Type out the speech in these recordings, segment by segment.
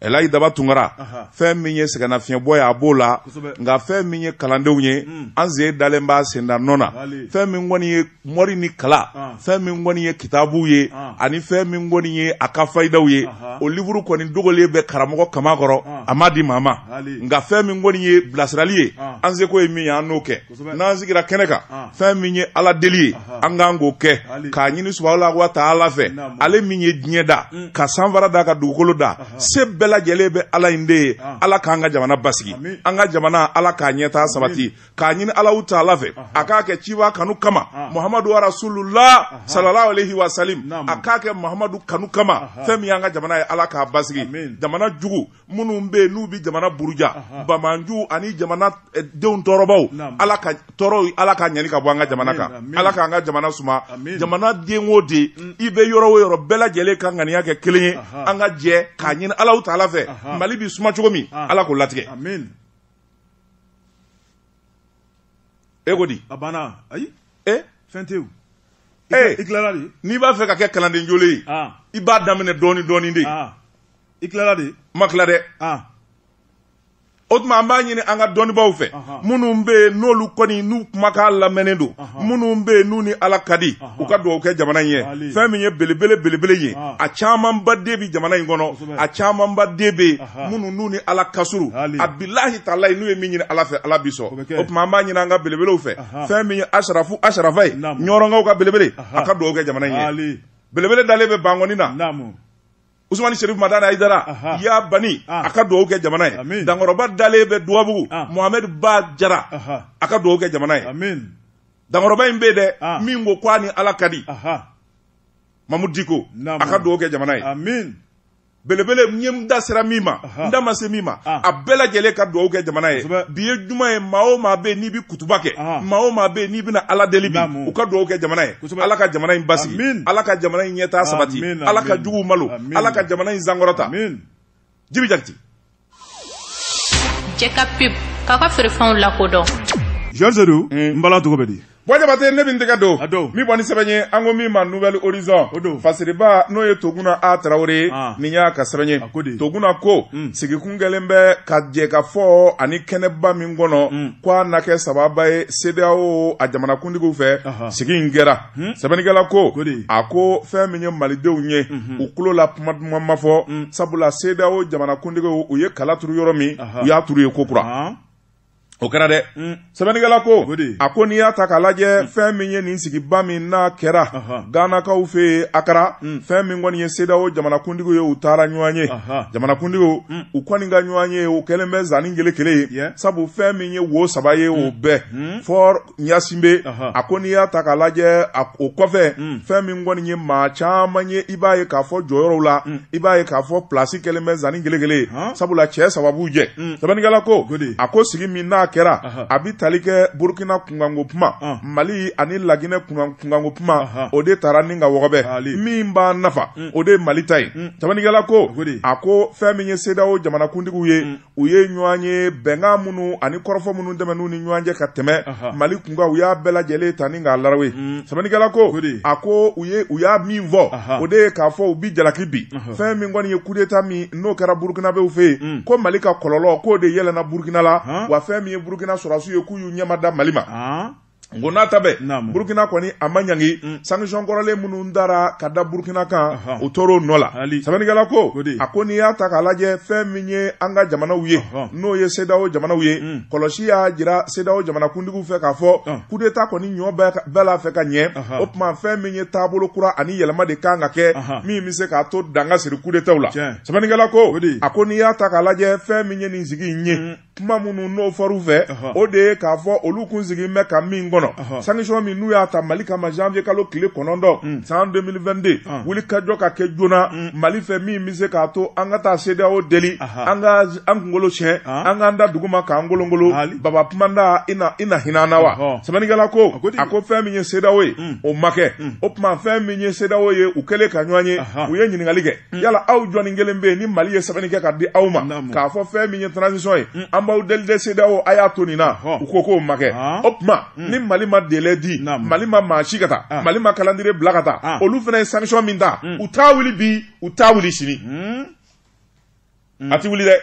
elayi daba tunkara fɛn min ye sɛgɛnnafiɲɛbɔ ye a b'o la nka fɛn min ye kalandenw ye hmm. an sen dalen b'a senda nɔ na fɛn min kɔni ye mɔri ni kala ah. fɛn min kɔni ye kitabuw ye ah. ani fɛn min kɔni ye a ka fayidaw ye o livuru kɔni dogolen bɛ karamɔgɔ kaman kɔrɔ ah. a ma di maa ma nka fɛn min kɔni ye bilasirali ye an seko ye min ye an n'o kɛ n'an sigira kɛnɛ kan ah. fɛn min ye ala deli ye an k'an k'o kɛ k'a ɲini subahana wa taala fɛ ale min ye diɲɛ da mm. ka sanfara da ka dugukolo da se bɛɛ lajɛlen bɛ ala in de ye ah. ala k'an ka jamana basigi an ka jamana ala k'a ɲɛtaa sabati k'a ɲini alahu taala fɛ a k'a kɛ ciba kanu kama ah. muhamadu rasulula salalahu alehi wasalim a k'a kɛ muhamadu kanu kama fɛn min y'an ka jamana ye ala k'a basigi jamana jugu minnu bɛ yen n'u bɛ jamana buruja bamanju ani jamana eh, denw tɔɔrɔbaw ala ka tɔɔrɔ ala ka ɲani ka bɔ an ka jamana kan ala k'an ka jamana suma jamana den o den mm. i bɛ yɔrɔ o yɔrɔ bɛɛ lajɛlen ka ŋaniya kɛ kelen ye an ka jɛ k'a ɲini alahu taala fɛ mali bɛ suma cogo min ah. ala k'o latigɛ e ko di a banna ayi e eh? fɛn tɛ eh. n'i b'a fɛ ka kɛ kalanden jolen ye ah. i b'a daminɛ dɔɔnin dɔɔnin de ah. i tilala de n ma tila dɛ ah. o tuma an b'a ɲini an ka dɔnnibaaw fɛ minnu bɛ yen n'olu kɔni n'u kumakan lamɛnnen don minnu bɛ yen n'u ni ala ka di u ka dugawu kɛ jamana in ye fɛn min ye belebele belebele ye a camanba de bɛ jamana in kɔnɔ a camanba de bɛ yen minnu n'u ni ala ka surun a bilahi talayi n'u ye min ɲini ala fɛ ala bi sɔn o tuma an b'a ɲini an ka belebelew fɛ fɛn min ye asarafu asarafa ye ɲɔrɔnkaw ka belebele a ka dugawu kɛ jamana in ye belebele dalen bɛ bankɔni na usumani sherif madani aidara ya bani ah. a ka dugawu kɛ jamana ye dankɔrɔba dalen bɛ dugabugu ah. mohamed ba jara a ka dugawu kɛ jamana ye dankɔrɔba in bɛ yen dɛ ah. min ko k'a ni ala ka di mamudu diko a ka dugawu kɛ jamana ye belebele n ye n da sera min ma n da ma se min ma a bɛɛ lajɛlen ka dugawu kɛ jamana ye bi ye juma ye maa o maa bɛ yen n'i bɛ kutuba kɛ maa o maa bɛ yen n'i bɛna ala deli bi u ka dugawu kɛ jamana ye ala ka jamana in basigi ala ka jamana in ɲɛtaa sabati ala ka juguw malo ala ka jamana in sankɔrɔta jibi jakite jɛ ka pep k'a ka feerefɛnw lakodɔn jɔn sedu n bala cogo bɛ di Bɔjabate ne bɛ n tɛgɛ don min bɔ ni sɛbɛn ye an ko min ma nouvel horizon fasiriba n'o ye toguna a tarawele nin y'a ka sɛbɛn ye toguna ko sigikun kɛlen bɛ ka jɛ ka fɔ ani kɛnɛba min kɔnɔ k' a na kɛ sababa ye CEDEAO a jamanakuntigiw fɛ sigi in kɛra sɛbɛnnikɛla ko a ko fɛn min ye malidenw ye u tulo la kuma duman ma fɔ sabula CEDEAO jamanakuntigiw u ye kala turu yɔrɔ min u y'a turu yen ko kura o kɛra dɛ mm. sɛbɛnnikɛla ko a ko n'i y'a ta k'a lajɛ mm. fɛn min ye nin sigiba min n'a kɛra ganakaw fɛ yen akara mm. fɛn min kɔni ye sedawo jamanakuntigiw ye u taara ɲɔgɔn ye jamanakuntigiw u kɔni ka ɲɔgɔn ye o kɛlen bɛ zanni kelen kelen ye sabu fɛn min ye wo saba ye o bɛɛ fɔ ɲasinbe a ko n'i y'a ta k'a lajɛ o kɔfɛ mm. fɛn min kɔni ye maa caman ye i b'a ye k'a fɔ jɔyɔrɔw la mm. i b'a ye k'a fɔ plasi kɛlen bɛ zanni kelen kelen ye sabula cɛ saba b'u jɛ mm. sɛbɛnnikɛla ko a ko sigi min n'a kɛra a bɛ tali kɛ burukina kunkanko kuma ah. mali ani laginɛ kunkanko kuma o de taara ni ka wɔgɔbɛ min b'a nafa o de ye mali ta ye sɛbɛnnikɛla ko a ko fɛn min ye sedawo jamanakuntigiw ye u ye ɲɔgɔn ye bɛnkan minnu ani kɔrɔfɔ minnu tɛmɛn'u ni ɲɔgɔn cɛ ka tɛmɛ mali kunkan u y'a bɛɛ lajɛlen ta ni k'a larawe mm. sɛbɛnnikɛla ko a ko u ye u y'a min fɔ o de ye k'a fɔ u bi jalaki bin fɛn min kɔni ye kudeta min n'o kɛra burukinabew fɛ yen mm. ko mali ka kɔlɔlɔ k'o de yɛlɛnna burukina la wa fɛn min ye burukina sɔrɔsiw ye k'u y'u ɲɛma da mali ma nk'o n'a ta bɛɛ Naamu. burukina kɔni a ma ɲangi Mm. sanction kɔrɔlen minnu dara ka da burukina kan Ahan. u tor'o nɔ la Ali. sɛbɛnnikɛla ko O de. a ko n'i y'a ta k'a lajɛ fɛn min ye an ka jamanaw ye Ahan. n'o ye CEDEAO jamanaw ye Mm. kɔlɔsi y'a jira CEDEAO jamanakuntigiw fɛ k'a fɔ Ah. coup d'Etat kɔni ɲɔ bɛɛ ka- bɛɛ la fɛ ka ɲɛ Ahan. o tuma fɛn min ye taabolo kura ani yɛlɛma de kan ka kɛ Ahan. min bɛ se k'a to dan ka siri coup d'Etat la Tiɲɛ. sɛbɛnnikɛla ko O de. a ko n'i y'a ta k'a lajɛ fɛn min ye nin sigi in ye kuma minnu n'o fɔr'u fɛ o de ye k'a fɔ olu kun sigin bɛ ka min kɔnɔ sanctions min n'u y'a ta Mali kama janvier kalo tile kɔnɔntɔn mm. san 2022 ah. wulikajɔ ka kɛ joona mm. Mali fɛ min bɛ se k'a to an ka taa CEDEAO deli an ka an kunkolo tiɲɛ ah. an k'an da duguma k'an kolonkolon baba kumandan i na hinɛ an na wa sɛbɛnnikɛla ko a ko fɛn min ye CEDEAO ye mm. o ma kɛ o tuma fɛn min ye CEDEAO ye u kɛlen ka ɲɔgɔn ye u ye ɲininkali kɛ Mm. yala aw jɔnni kelen bɛ yen ni mali ye sɛbɛnni kɛ ka di aw ma k'a fɔ fɛn min ye transition ye mm. an b'aw deli de CEDEAO a y'a to nin na u ko k'o ma kɛ ah. o tuma mm. ni mali ma délai di mali ma maa ci ka taa ah. mali ma calendrier bila ka taa ah. olu fana ye sanction min ta u t'a wuli bi u t'a wuli sini a tɛ wuli dɛ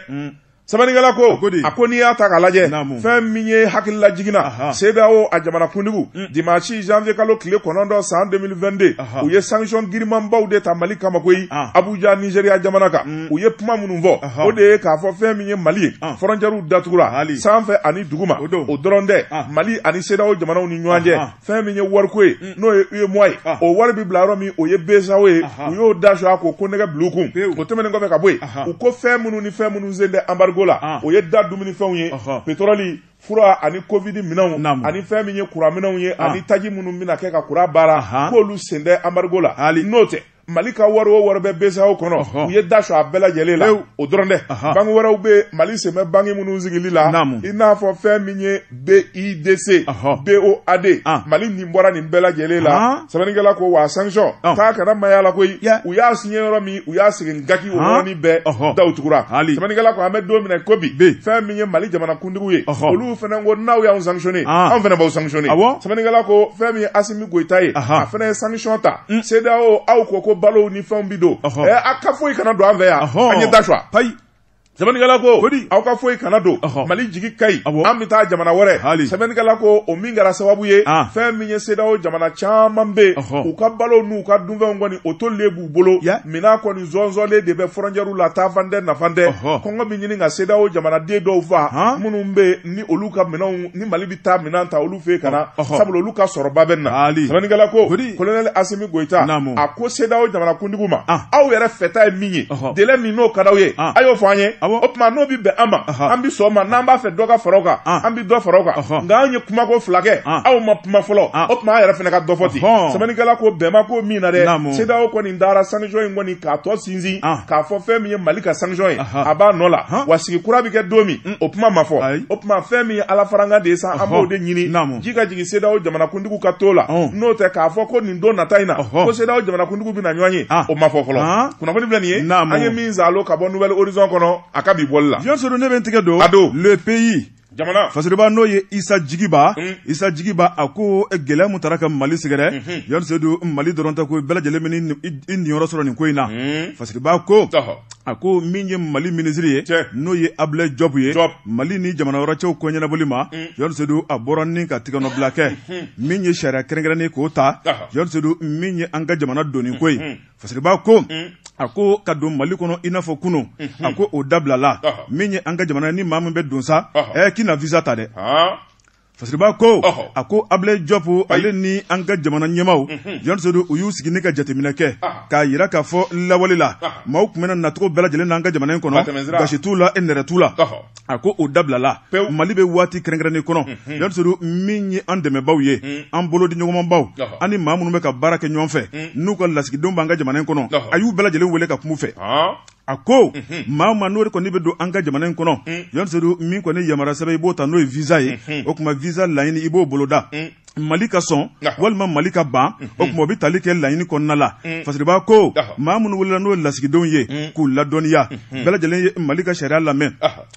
sɛbɛnnikɛla ko a ko n'i y'a ta k'a lajɛ fɛn min ye hakililajigin na CEDEAO a jamanakuntigiw mm. dimanche janvier kalo tile kɔnɔntɔn san 2022 u ye sanction girimanbaw de ta Mali kama koyi ah. Abuja Nigeria jamana kan mm. u ye kuma minnu fɔ o de ye k'a fɔ fɛn min ye Mali ye ah. frontières datugura sanfɛ ani duguma o dɔrɔn tɛ ah. Mali ani CEDEAO jamanaw ni ɲɔgɔn cɛ fɛn min ye wariko ye mm. n'o ye UEMOA ye ah. o wari bɛ bila yɔrɔ min o ye BCEAO ye u y'o da sɔgɔ k'o konnɛgɛ bila u kun o tɛmɛnen kɔfɛ ka bɔ yen u ko fɛn minnu ni fɛn minnu sen tɛ anbarigo la ah. o ye da dumunifɛnw ye petɔrɔli fura ani covid minɛnw ani fɛn min ye kuran minɛnw ye ah. ani taji minnu bɛna kɛ ka kuran baara k'olu sen tɛ anbarigo la n'o tɛ mali ka wari o wari bɛ BCEAO kɔnɔ u ye da sɔ a bɛɛ lajɛlen la o dɔrɔn tɛ banque wɛrɛw bɛ mali sen bɛ banque minnu sigili la i n'a fɔ fɛn min ye bidc boad mali nin bɔra nin bɛɛ lajɛlen la sɛbɛnnikɛla ko wa sanction k'a kana maya la koyi u y'a siɲɛ yɔrɔ min u y'a segin gaki o yɔrɔnin bɛɛ daw tugura sɛbɛnnikɛla ko an bɛ don min i ko bi fɛn min ye mali jamanakuntigiw ye olu fana ko n'aw y'an sanctionné an fana b'aw sanctionné sɛbɛnnikɛla ko fɛn min ye asimi goyita ye a fana ye sanction ta mm. CEDEAO aw ko ko balow ni fɛnw bi don ɛ eh, a ka foyi kana don an fɛ yan an ye da sɔ payi sɛbɛnnikɛla ko kodi aw ka foyi kana don mali jigi ka ɲi an bɛ taa jamana wɛrɛ sɛbɛnnikɛla ko o min kɛra sababu ye ah. fɛn min ye CEDEAO jamana caman bɛ u ka balow n'u ka dunfɛnw kɔni o tolilen b'u bolo minan kɔni zɔnzɔnlen de bɛ frontière la taafan tɛ nafan tɛ kɔngɔ bɛ ɲini ka CEDEAO jamanaden dɔw fa minnu bɛ ni olu ka minɛnw ni mali taa minɛn ta olu fɛ ka na sabula olu ka sɔrɔba bɛ na sɛbɛnnikɛla ko kolonɛli asimi goyita a ko CEDEAO jamanakuntigiw ma ah. aw yɛrɛ fɛta ye min ye délai min n'o ka d'aw ye ah. a y'o fɔ an ye o tuma n'o bɛ bɛn an ma an bɛ sɔn o ma n'an b'a fɛ dɔ ka fara o kan ah. an bɛ dɔ fara o kan nka anw ye kuma ko fila kɛ aw ma kuma fɔlɔ o tuma an yɛrɛ fana ka dɔ fɔ ten sɛbɛnnikɛla ko bɛn b'a ko min na dɛ CEDEAO kɔni dara sanction in kɔni k'a tɔ sinsin k'a fɔ fɛn min ye mali ka sanction ye a b'a nɔ la wa sigi kura bɛ kɛ don min o kuma ma fɔ Ayi. o tuma fɛn min ye ala farankan de ye sa an Ɔhɔ. b'o de ɲini Naamu. ji ka jigin CEDEAO jamanakuntigiw ka to la Ɔn. n'o tɛ k'a fɔ ko nin don nata in na Ɔhɔ. ko CEDEAO jamanakuntigiw bɛna ɲɔgɔn ye Ah. o ma fɔ fɔlɔ Ah. kunnafoni filɛ nin ye Naamu. an ye min zalo ka bɔ nouvel horizon kɔnɔ a ka bi bɔli la jɔn sedu ne bɛ n tigɛ don A don. le pays jamana fasiriba n'o ye isa jigiba Mm. isa jigiba a ko eh, gɛlɛya mun taara ka mali sɛgɛrɛ jɔn sedu mali dɔrɔn tɛ ko bɛɛ lajɛlen bɛ ni- i i niyɔrɔ sɔrɔ nin ko in na Mm. fasiriba ko Tɔhɔ. a ko min ye mali minisiri ye n'o ye ablayi jɔpu ye mali ni jamana wɛrɛ cɛw ko ɲɛnabɔli ma mm. jɔn sedu a bɔra ni ka tigɛnɔbila kɛ mm-hmm. min ye sariya kɛrɛnkɛrɛnnen k'o ta jɔn sedu min ye an ka jamana donni ko ye mm-hmm. fasiriba ko mm. a ko ka don mali kɔnɔ i n'a fɔ kunun mm-hmm. a ko o dabilala min ye an ka jamana ni maa min bɛ don sa ɛ k'i na visa ta dɛ Fasiriba ko a ko ablayi jɔpu ale ni an ka jamana ɲɛmaw jɔn sedu u y'u sigi ne ka jateminɛ kɛ k'a yira k'a fɔ lawale la maaw tun bɛ na nacogo bɛɛ lajɛlen n'an ka jamana in kɔnɔ baasi t'u la e nɛrɛ t'u la a ko o dabilala mali bɛ waati kɛrɛnkɛrɛnnen kɔnɔ jɔn sedu min ye an dɛmɛbaw ye an bolo di ɲɔgɔnmabaw an ni maa minnu bɛ ka baara kɛ ɲɔgɔn fɛ n'u ka lasigidenw b'an ka jamana in kɔnɔ a y'u bɛɛ lajɛlen wele ka kum'u fɛ a ko mhm. maa maa n'o de kɔni bɛ don an ka jamana in kɔnɔ mhm. jɔn sedu min kɔni yamara sɛbɛn i b'o ta n'o ye visa ye mhm. o tuma visa laɲini i b'o boloda mali ka sɔn walima mali ka ban o tuma o bɛ tali kɛ laɲini kɔnɔna la fasiribaa ko maa minnu welela n'o ye lasigidenw ye k'u ladɔnniya bɛɛ lajɛlen ye mali ka sariya lamɛn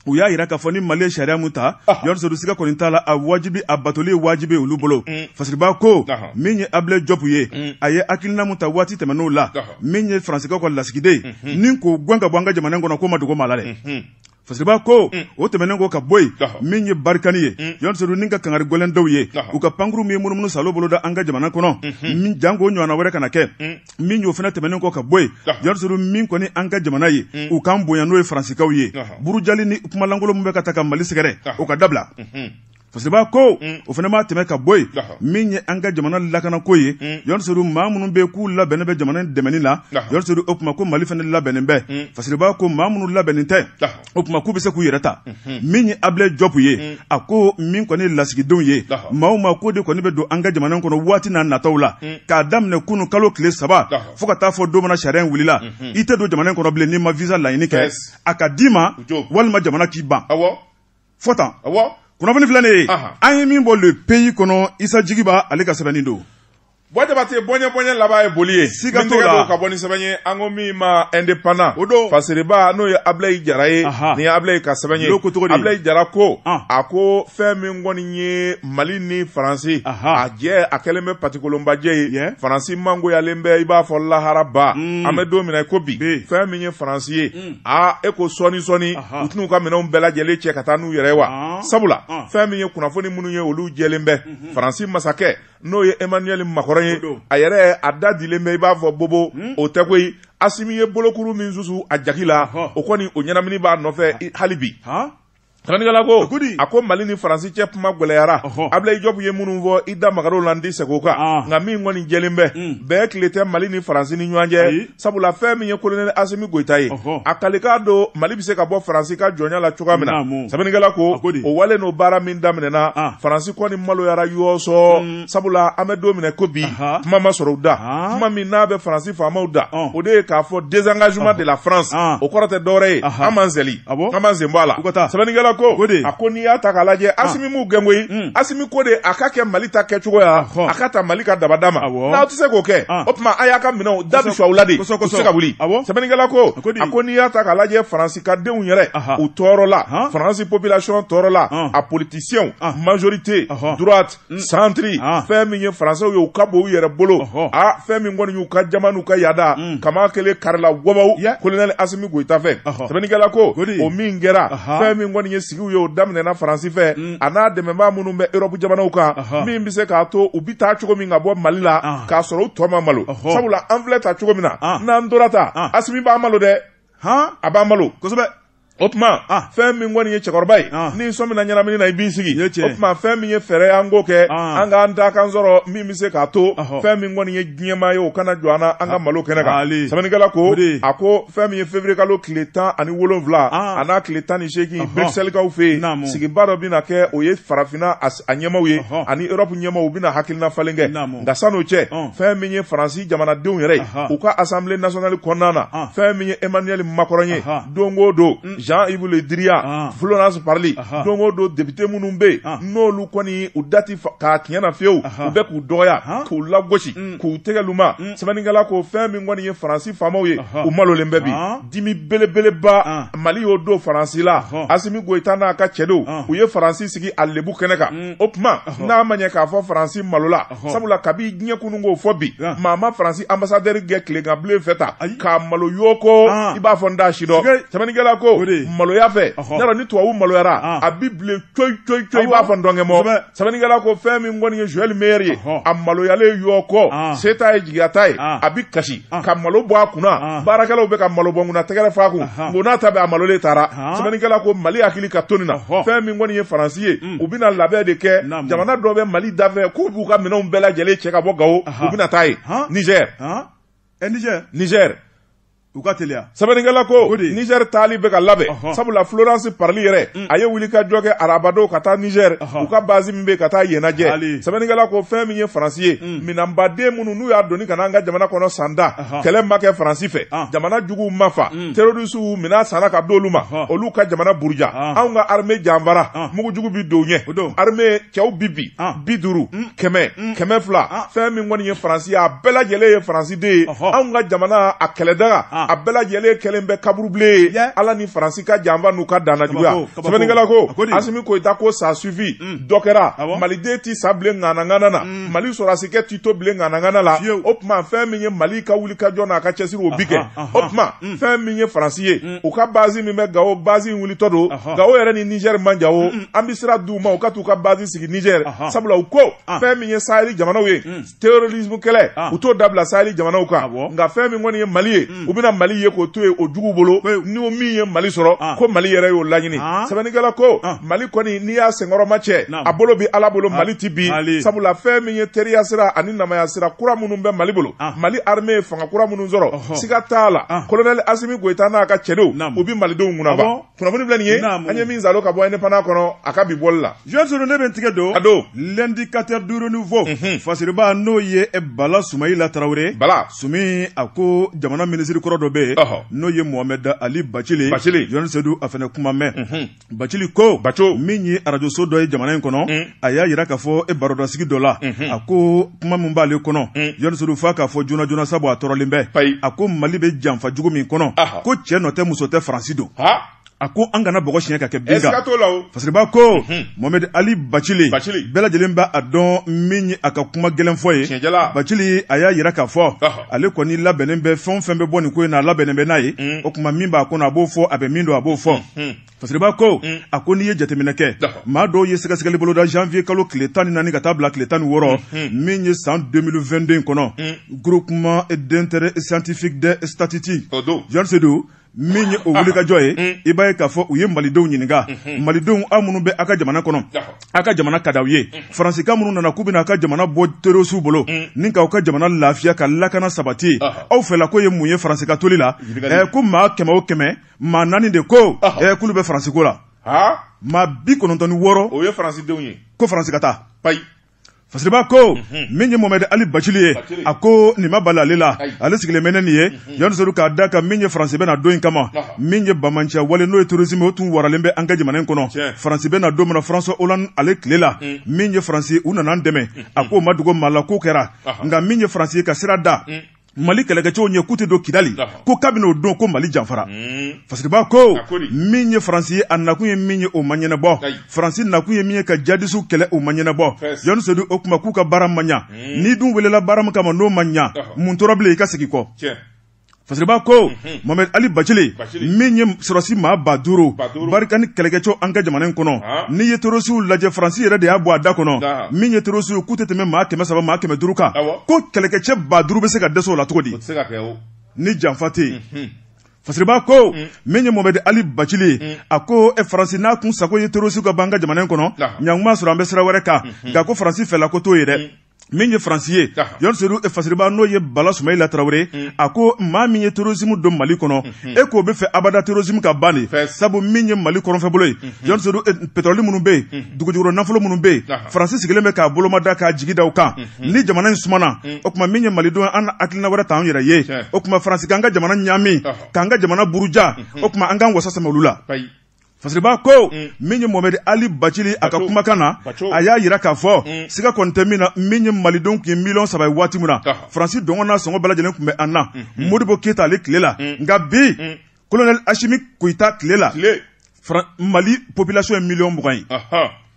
u y'a jira k'a fɔ ni mali ye sariya mun ta jɔni seyidu siga kɔni t'a la a wajibi a batoli wajibi olu bolo mm. fasiriba ko min ye abilayi jɔpu ye mm. a ye hakilina mun ta waati tɛmɛn'o la min ye faransikaw ka lasigiden mm-hmm. ni k'o gwɛn ka bɔ an ka jamana kɔnɔ k'o ma dogo maa la dɛ mm-hmm. fasiriba ko mm. o tɛmɛnen kɔ ka bɔ yen min ye barikani ye mm. jɔni seyidu ni ka kangari gɛlɛn d'u ye u ka pankurun min ye munumunu salo boloda an ka jamana kɔnɔ mm-hmm. min janko ɲɔgɔnna wɛrɛ kana kɛ mm. min y'o fana tɛmɛnen kɔ ka bɔ yen jɔni seyidu min kɔni an ka jamana ye mm. u k'an bonya n'o ye faransikaw ye burujali ni kumalankolon min bɛ ka taa ka mali sɛgɛrɛ o ka dabila mhm. fasiriba ko mm. o fana maa tɛmɛ ka bɔ yen min ye an ka jamana lakanako ye mm. jɔni seyidu maa minnu bɛ k'u labɛnnen bɛ jamana dɛmɛni la jɔni seyidu o tuma ko mali fana labɛnnen bɛ fasiriba ko maa minnu labɛnnen tɛ o tuma k'u bɛ se k'u yɛrɛ ta min ye abilayi jɔpu ye a ko min kɔni lasigidenw ye maa o maa ko de kɔni bɛ don an ka jamana kɔnɔ waati n'a nataw la k'a daminɛ kunun kalo tile saba fo ka taa fo don min na sariya in wulila i tɛ don jamana kɔnɔ bilen n'i ma visa laɲini kɛ a ka d'i ma walima jamana k'i ban fo tan kunnafoni filanan ye an ye min bɔ le pays kɔnɔ isa jigiba ale ka sɛbɛnni don bɔ jabate bɔɲɛ bɔɲɛ laban ye boli ye siga t'o la ka bɔ ni sɛbɛn ye an ko min ma indépendant o don fasiriba n'o ye abilayi jara ye nin ye abilayi ka sɛbɛn ye abilayi jara ko a ko fɛn min kɔni ye mali ni faransi a jɛ a kɛlen bɛ patikolonbajɛ ye faransi mangoyalen bɛ i b'a fɔ laharaba mm. an bɛ don min na i ko bi fɛn min ye faransi ye mm. a e ko sɔɔni sɔɔni u tɛn'u ka minɛnw bɛɛ lajɛlen cɛ ka taa n'u yɛrɛ ye wa sabula fɛn min ye kunnafoni minnu ye olu jɛlen bɛ mm-hmm. faransi masakɛ n'o ye emmanuel macron ye a yɛrɛ a da dilen bɛ i b'a fɔ bobo hmm? o tɛ koyi asimi ye bolokuru min susu a jaki la o kɔni o ɲɛnamini b'a nɔfɛ hali bi sɛbɛnnikɛla ko a ko mali ni faransi cɛ kuma gɛlɛyara abilayi jɔpu ye minnu fɔ i da maga dɔw la n tɛ segin o kan nka min kɔni jɛlen bɛ hmm. bɛɛ tile tɛ mali ni faransi ni ɲɔgɔn cɛ sabula fɛn min ye kolonɛli asimi goyita ye a kalikan don mali bɛ se ka bɔ faransi ka jɔnya la cogoya min na sɛbɛnnikɛla ko o wale n'o baara min daminɛna ah. faransi kɔni maloyara yɔɔsɔ mm. sabula an bɛ don min na i ko bi kuma ma sɔrɔ u da ah. kuma min n'a bɛ faransi faamaw da o de ye k'a fɔ désengagement de la france ah. o kɔrɔ tɛ dɔwɛrɛ ye an m'an seli an m'an sen bɔ a la u ka taa sɛbɛnnikɛla ko o de a ko n'i y'a ta k'a lajɛ ah. asimi m'u gɛn koyi hmm. asimi ko de a ka kɛ mali ta kɛcogoya a ka ta mali ka dabada ma n'aw tɛ se k'o kɛ ah. o tuma a y'a ka minɛnw da bi su aw la de u tɛ se ka wuli sɛbɛnnikɛla ko a ko n'i y'a ta k'a lajɛ faransi ka denw yɛrɛ u tɔɔrɔla faransi population tɔɔrɔla a politisiyɛnw majorité droite Mm. centre ah. fɛn min ye faransɛw ye u ka bon u yɛrɛ bolo a ah, fɛn min kɔni y'u ka jama n'u ka yaada mm. kaman kelen karila wabaw kolonɛli asimi goyita fɛ sɛbɛnnikɛla ko o min kɛra fɛn min kɔni ye sigiw ye o daminɛna faransi fɛ mm. a n'a dɛmɛbaa minnu bɛ erɔpu jamanaw kan min bɛ se k'a to u bi taa cogo min ka bɔ mali la ah. k'a sɔrɔ u tɔ ma malo sabula an filɛ taa cogo min na n'an tora taa asimi b'an malo dɛ a b'an malo kosɛbɛ o tuma ah. fɛn min kɔni ye cɛkɔrɔba ye ah. n'i sɔmina ɲɛnamini na i b'i sigi o tuma fɛn min ye fɛɛrɛ ye an k'o kɛ ah. an k'an da kan sɔrɔ min bɛ se k'a to fɛn min kɔni ye diɲɛmaa ye o kana jɔ an na an ka malo kɛnɛ kan sɛbɛnnikɛla ko a ko fɛn min ye février kalo tile tan ani wolonwula a n'a tile tan ni seegin Bruxelles kaw fɛ yen sigiba dɔ bɛna kɛ o ye farafinna a a ɲɛmaw ye ani europe ɲɛmaw u bɛna hakilina falen kɛ nka san'o cɛ fɛn min ye faransi jamanadenw yɛrɛ ye u ka assemblée nationale kɔnɔna na fɛn min ye emmanuel macron ye don o don mm. jean yves le drian florence parly don o don député minnu bɛ yen olu kɔni u da ti k'a tiɲɛ na fiyewu u bɛ k'u dɔgɔya k'u lagosi mm. k'u tɛgɛ luma mm. sɛbɛnnikɛla ko fɛn min kɔni ye faransi faamaw ye u malolen bɛ bi dimi belebeleba ah. mali y'o don faransi la asimi goyita n'a ka cɛdenw ah. u ye faransi sigi a lebu kɛnɛ kan mm. o tuma n'a ma ɲɛ k'a fɔ faransi malola sabula kabi diɲɛ kunun k'o fɔ bi ah. maa ma faransi ambasadɛri gɛn tileganbilen fɛ ta k'a malo yoko i b'a fɔ n t'a si dɔn sɛbɛnnikɛla ko maloya fɛ y'a dɔn ni tubabu maloyara a bi bilen coyi coyi coyi i b'a fɔ ntɔnkɛ mɔ sɛbɛnnikɛla ko fɛn min kɔni ye joel meyer ye a maloyalen yɔ kɔ ah. se t'a ye jigiya t'a ye ah. a bi kasi ah. ka malo bɔ a kunna baarakɛlaw bɛ ka malo bɔ kunna tɛgɛrɛ f'a kun ko n'a ta bɛ a malolen taara sɛbɛnnikɛla ko mali hakili ka to nin na fɛn min kɔni ye faransi ye mm. u bɛna labɛn de kɛ jamana dɔ bɛ mali dafɛ k'u b'u ka minɛnw bɛɛ lajɛlen cɛ ka bɔ gawo u bɛna taa yen niger eh, niger niger u ka teliya sɛbɛnnikɛla ko o de Niger taali bɛ ka labɛn ɔhɔn sabula Florence Parly yɛrɛ mm. a ye wulikajɔ kɛ arabadon ka taa Niger u ka base min bɛ ka taa yen lajɛ sɛbɛnnikɛla ko fɛn min ye Faransi ye mm. minɛnbaden minnu n'u y'a doni ka na an ka jamana kɔnɔ san da kɛlɛ ma kɛ Faransi fɛ ah. jamana juguw ma fa mm. terorisiw minɛn sanna ka d'olu ma olu ka jamana buruja ah. anw ka armée janfara ah. mugu jugu bi don u ɲɛ armée cɛw bi bi bi duuru kɛmɛ kɛmɛ fila fɛn min kɔni ye Faransi ye a bɛɛ lajɛlen ye Faransi de anw ka jamana a kɛlɛdaga ah. a bɛɛ lajɛlen kɛlen bɛ kaburubilen ye ala ni faransi ka janfa n'u ka dannajuguya sɛbɛnnikɛla ko asimi goyita ko ça suffit mm. dɔ kɛra ah maliden tɛ sa bilen ŋanaŋana na mm. mali sɔrɔdasikɛ tɛ to bilen ŋanaŋana la o tuma fɛn min ye mali ka wulikajɔ n'a ka cɛsiri o bi kɛ o tuma mm. fɛn min ye faransi ye u ka bazi min bɛ gawo bazi in wulitɔ don gawo yɛrɛ ni nizɛri man jan o an bɛ sira di u ma u ka t'u ka bazi sigi nizɛri sabula u ko ah. fɛn min ye sahɛli jamanaw ye terrorisme kɛlɛ ah. u t'o dabila saheli jamanaw kan ah, nka fɛn min kɔni ye mali ye hmm. u bɛna mali ye k'o to yen o juguw bolo ni o min ye mali sɔrɔ ah. ko mali yɛrɛ y'o laɲini sɛbɛnnikɛla ko mali kɔni n'i y'a senkɔrɔma cɛ a bolo bi ala bolo mali ti bin sabula fɛn min ye teriya sira ani namaya sira kura minnu bɛ mali bolo mali arme ye fanga kura minnu sɔrɔ siga t'a la kolonɛli asimi goyita n'a ka cɛdenw u bi malidenw kunaba kunnafoni filɛ nin ye an ye min zalo ka bɔ indépendant kɔnɔ a ka bi bɔli la jɔn sedu ne bɛ n tigɛ don a don l'indicateur du renouveau mhm. fasiriba n'o ye eh, bala sumayila tarawele bala sumi a ko jamana minisiri kɔrɔ dɔ bɛ yen n'o ye mohamɛd ali bacili jɔn sedu a fana kuma mɛn mhm. bacili ko min ye arajoso dɔ ye jamana in kɔnɔ mhm. a y'a yira k'a fɔ e barodasigi dɔ la mhm. a ko kuma min b'ale kɔnɔ mhm. jɔn sedu f'a k'a fɔ joona joona sabu a tɔɔrɔlen bɛ a ko mali bɛ janfa jugu min kɔnɔ ko cɛ nɔ tɛ muso tɛ faransi don a ko an kana bɔgɔ siɲɛ ka kɛ bin kan fasiriba ko mhm. mohamɛdi ali bacili bɛɛ lajɛlen b'a dɔn min ye a ka kuma gɛlɛnfɔ ye bacili a y'a yira k'a fɔ ale kɔni labɛnnen bɛ fɛn o fɛn bɛ bɔ nin ko in na a labɛnnen bɛ n'a ye o kuma min b'a kɔnɔ a b'o fɔ a bɛ min dɔn a b'o fɔ fasiriba ko mm. a ko n'i ye jateminɛ kɛ maa dɔw ye sɛgɛsɛgɛli boloda janvier kalo tile tan ni naani ka taa bila tile tan ni wɔɔrɔ mm-hmm. min ye san 2022 in kɔnɔ mm. groupement d'intérêt scientifique des statistiques jɔn sedu min ye o wulikajɔ ye mm. i b'a ye k'a fɔ u ye malidenw ɲininka mm-hmm. malidenw aw minnu bɛ aw ka jamana kɔnɔ aw ka jamana ka di aw ye mm-hmm. faransikaw minnu nana k'u bɛna aw ka jamana bɔ terosiw bolo mm. ni k'aw ka jamana lafiya ka lakana sabati aw fɛla ko ye mun ye faransi ka toli la ko maa kɛmɛ o kɛmɛ maa naani de ko ɛɛ k'olu bɛ faransi ko la maa bi kɔnɔntɔn ni wɔɔrɔ o ye faransidenw ye ko faransi ka taa payi fasiriba ko mhm. min ye momɛdi ali bacili ye a ko nin ma bali ale la ale sigilen bɛ ni nin ye mhm. jɔn sedu k'a da kan min ye faransi bɛ na don in kama min ye bamanciya wale n'o ye terrorisme o tun waralen bɛ an ka jamana in kɔnɔ faransi bɛ na don min na françois hollande ale tile la mm. min ye faransi u nana an dɛmɛ a mm. k'o ma dogo maa la k'o kɛra nka min ye faransi ye ka sira da mm. mali kɛlɛkɛcɛw ɲɛ k'u tɛ don kidali ko kabini o don ko mali janfara hmm. fasiriba ko min ye faransi ye a nakun ye min ye o ma ɲɛnabɔ faransi nakun ye min ye ka jadisiw kɛlɛ o ma ɲɛnabɔ jɔn sedu o kuma k'u ka baara ma ɲa hmm. n'i dun welela baara min kama n'o ma ɲa mun tora bilen i ka segin kɔ fasiriba ko Hmm. Mohamed Ali Bacili min ye sɔrɔsi maa ba duuru barkhane kɛlɛkɛcɛw an ka jamana in kɔnɔ ah. n'i ye terosiw lajɛ faransi yɛrɛ de y'a bɔ a da kɔnɔ min ye terosiw k'u tɛ tɛmɛ maa kɛmɛ saba maa kɛmɛ duuru kan ko kɛlɛkɛcɛ ba duuru bɛ se ka dɛsɛ o la cogo di ni janfa tɛ yen mhm. fasiriba ko mm. min ye mɔmɛdi ali bacili ye mm. a ko e faransi n'a kun sago ye terosiw ka ban an ka jamana in kɔnɔ ɲankuma sɔrɔ an bɛ sira wɛrɛ kan mm-hmm. nka ko faransi fɛla ko t'o ye dɛ mm. min ye faransi ye jɔn sedu e fasiriba n'o ye bala sumayila tarawele mm. a ko maa min ye terosimu don mali kɔnɔ mm-hmm. e k'o bɛ fɛ abada terosimu ka ban de sabu min ye mali kɔrɔnfɛbolo ye mm-hmm. jɔn sedu e, petrɔli minnu bɛ yen mm-hmm. dugujukɔrɔ nafolo minnu bɛ yen faransi sigilen bɛ k'a bolomada k'a jigi da o kan ni jamana in sumana mm. o kuma min ye malidenw an hakilina wɛrɛ t'an yɛrɛ ye o kuma faransi k'an ka jamana ɲaami k'an ka jamana buruja o kuma an k'an wasa sɛmɛ olu la Fasiriba ko mm. min ye momɛdi ali bacili a ka kumakan na a y'a yira k'a fɔ mm. siga kɔni tɛ min na min ye malidenw tun ye miliyɔn saba ye waati min na faransi dɔngɔ n'a sɔngɔ bɛɛ lajɛlen tun bɛ an na mm-hmm. modibo keyita ale tile la mm. nka bi kolonɛli asimi goyita tile la mali population ye miliyɔn mugan ye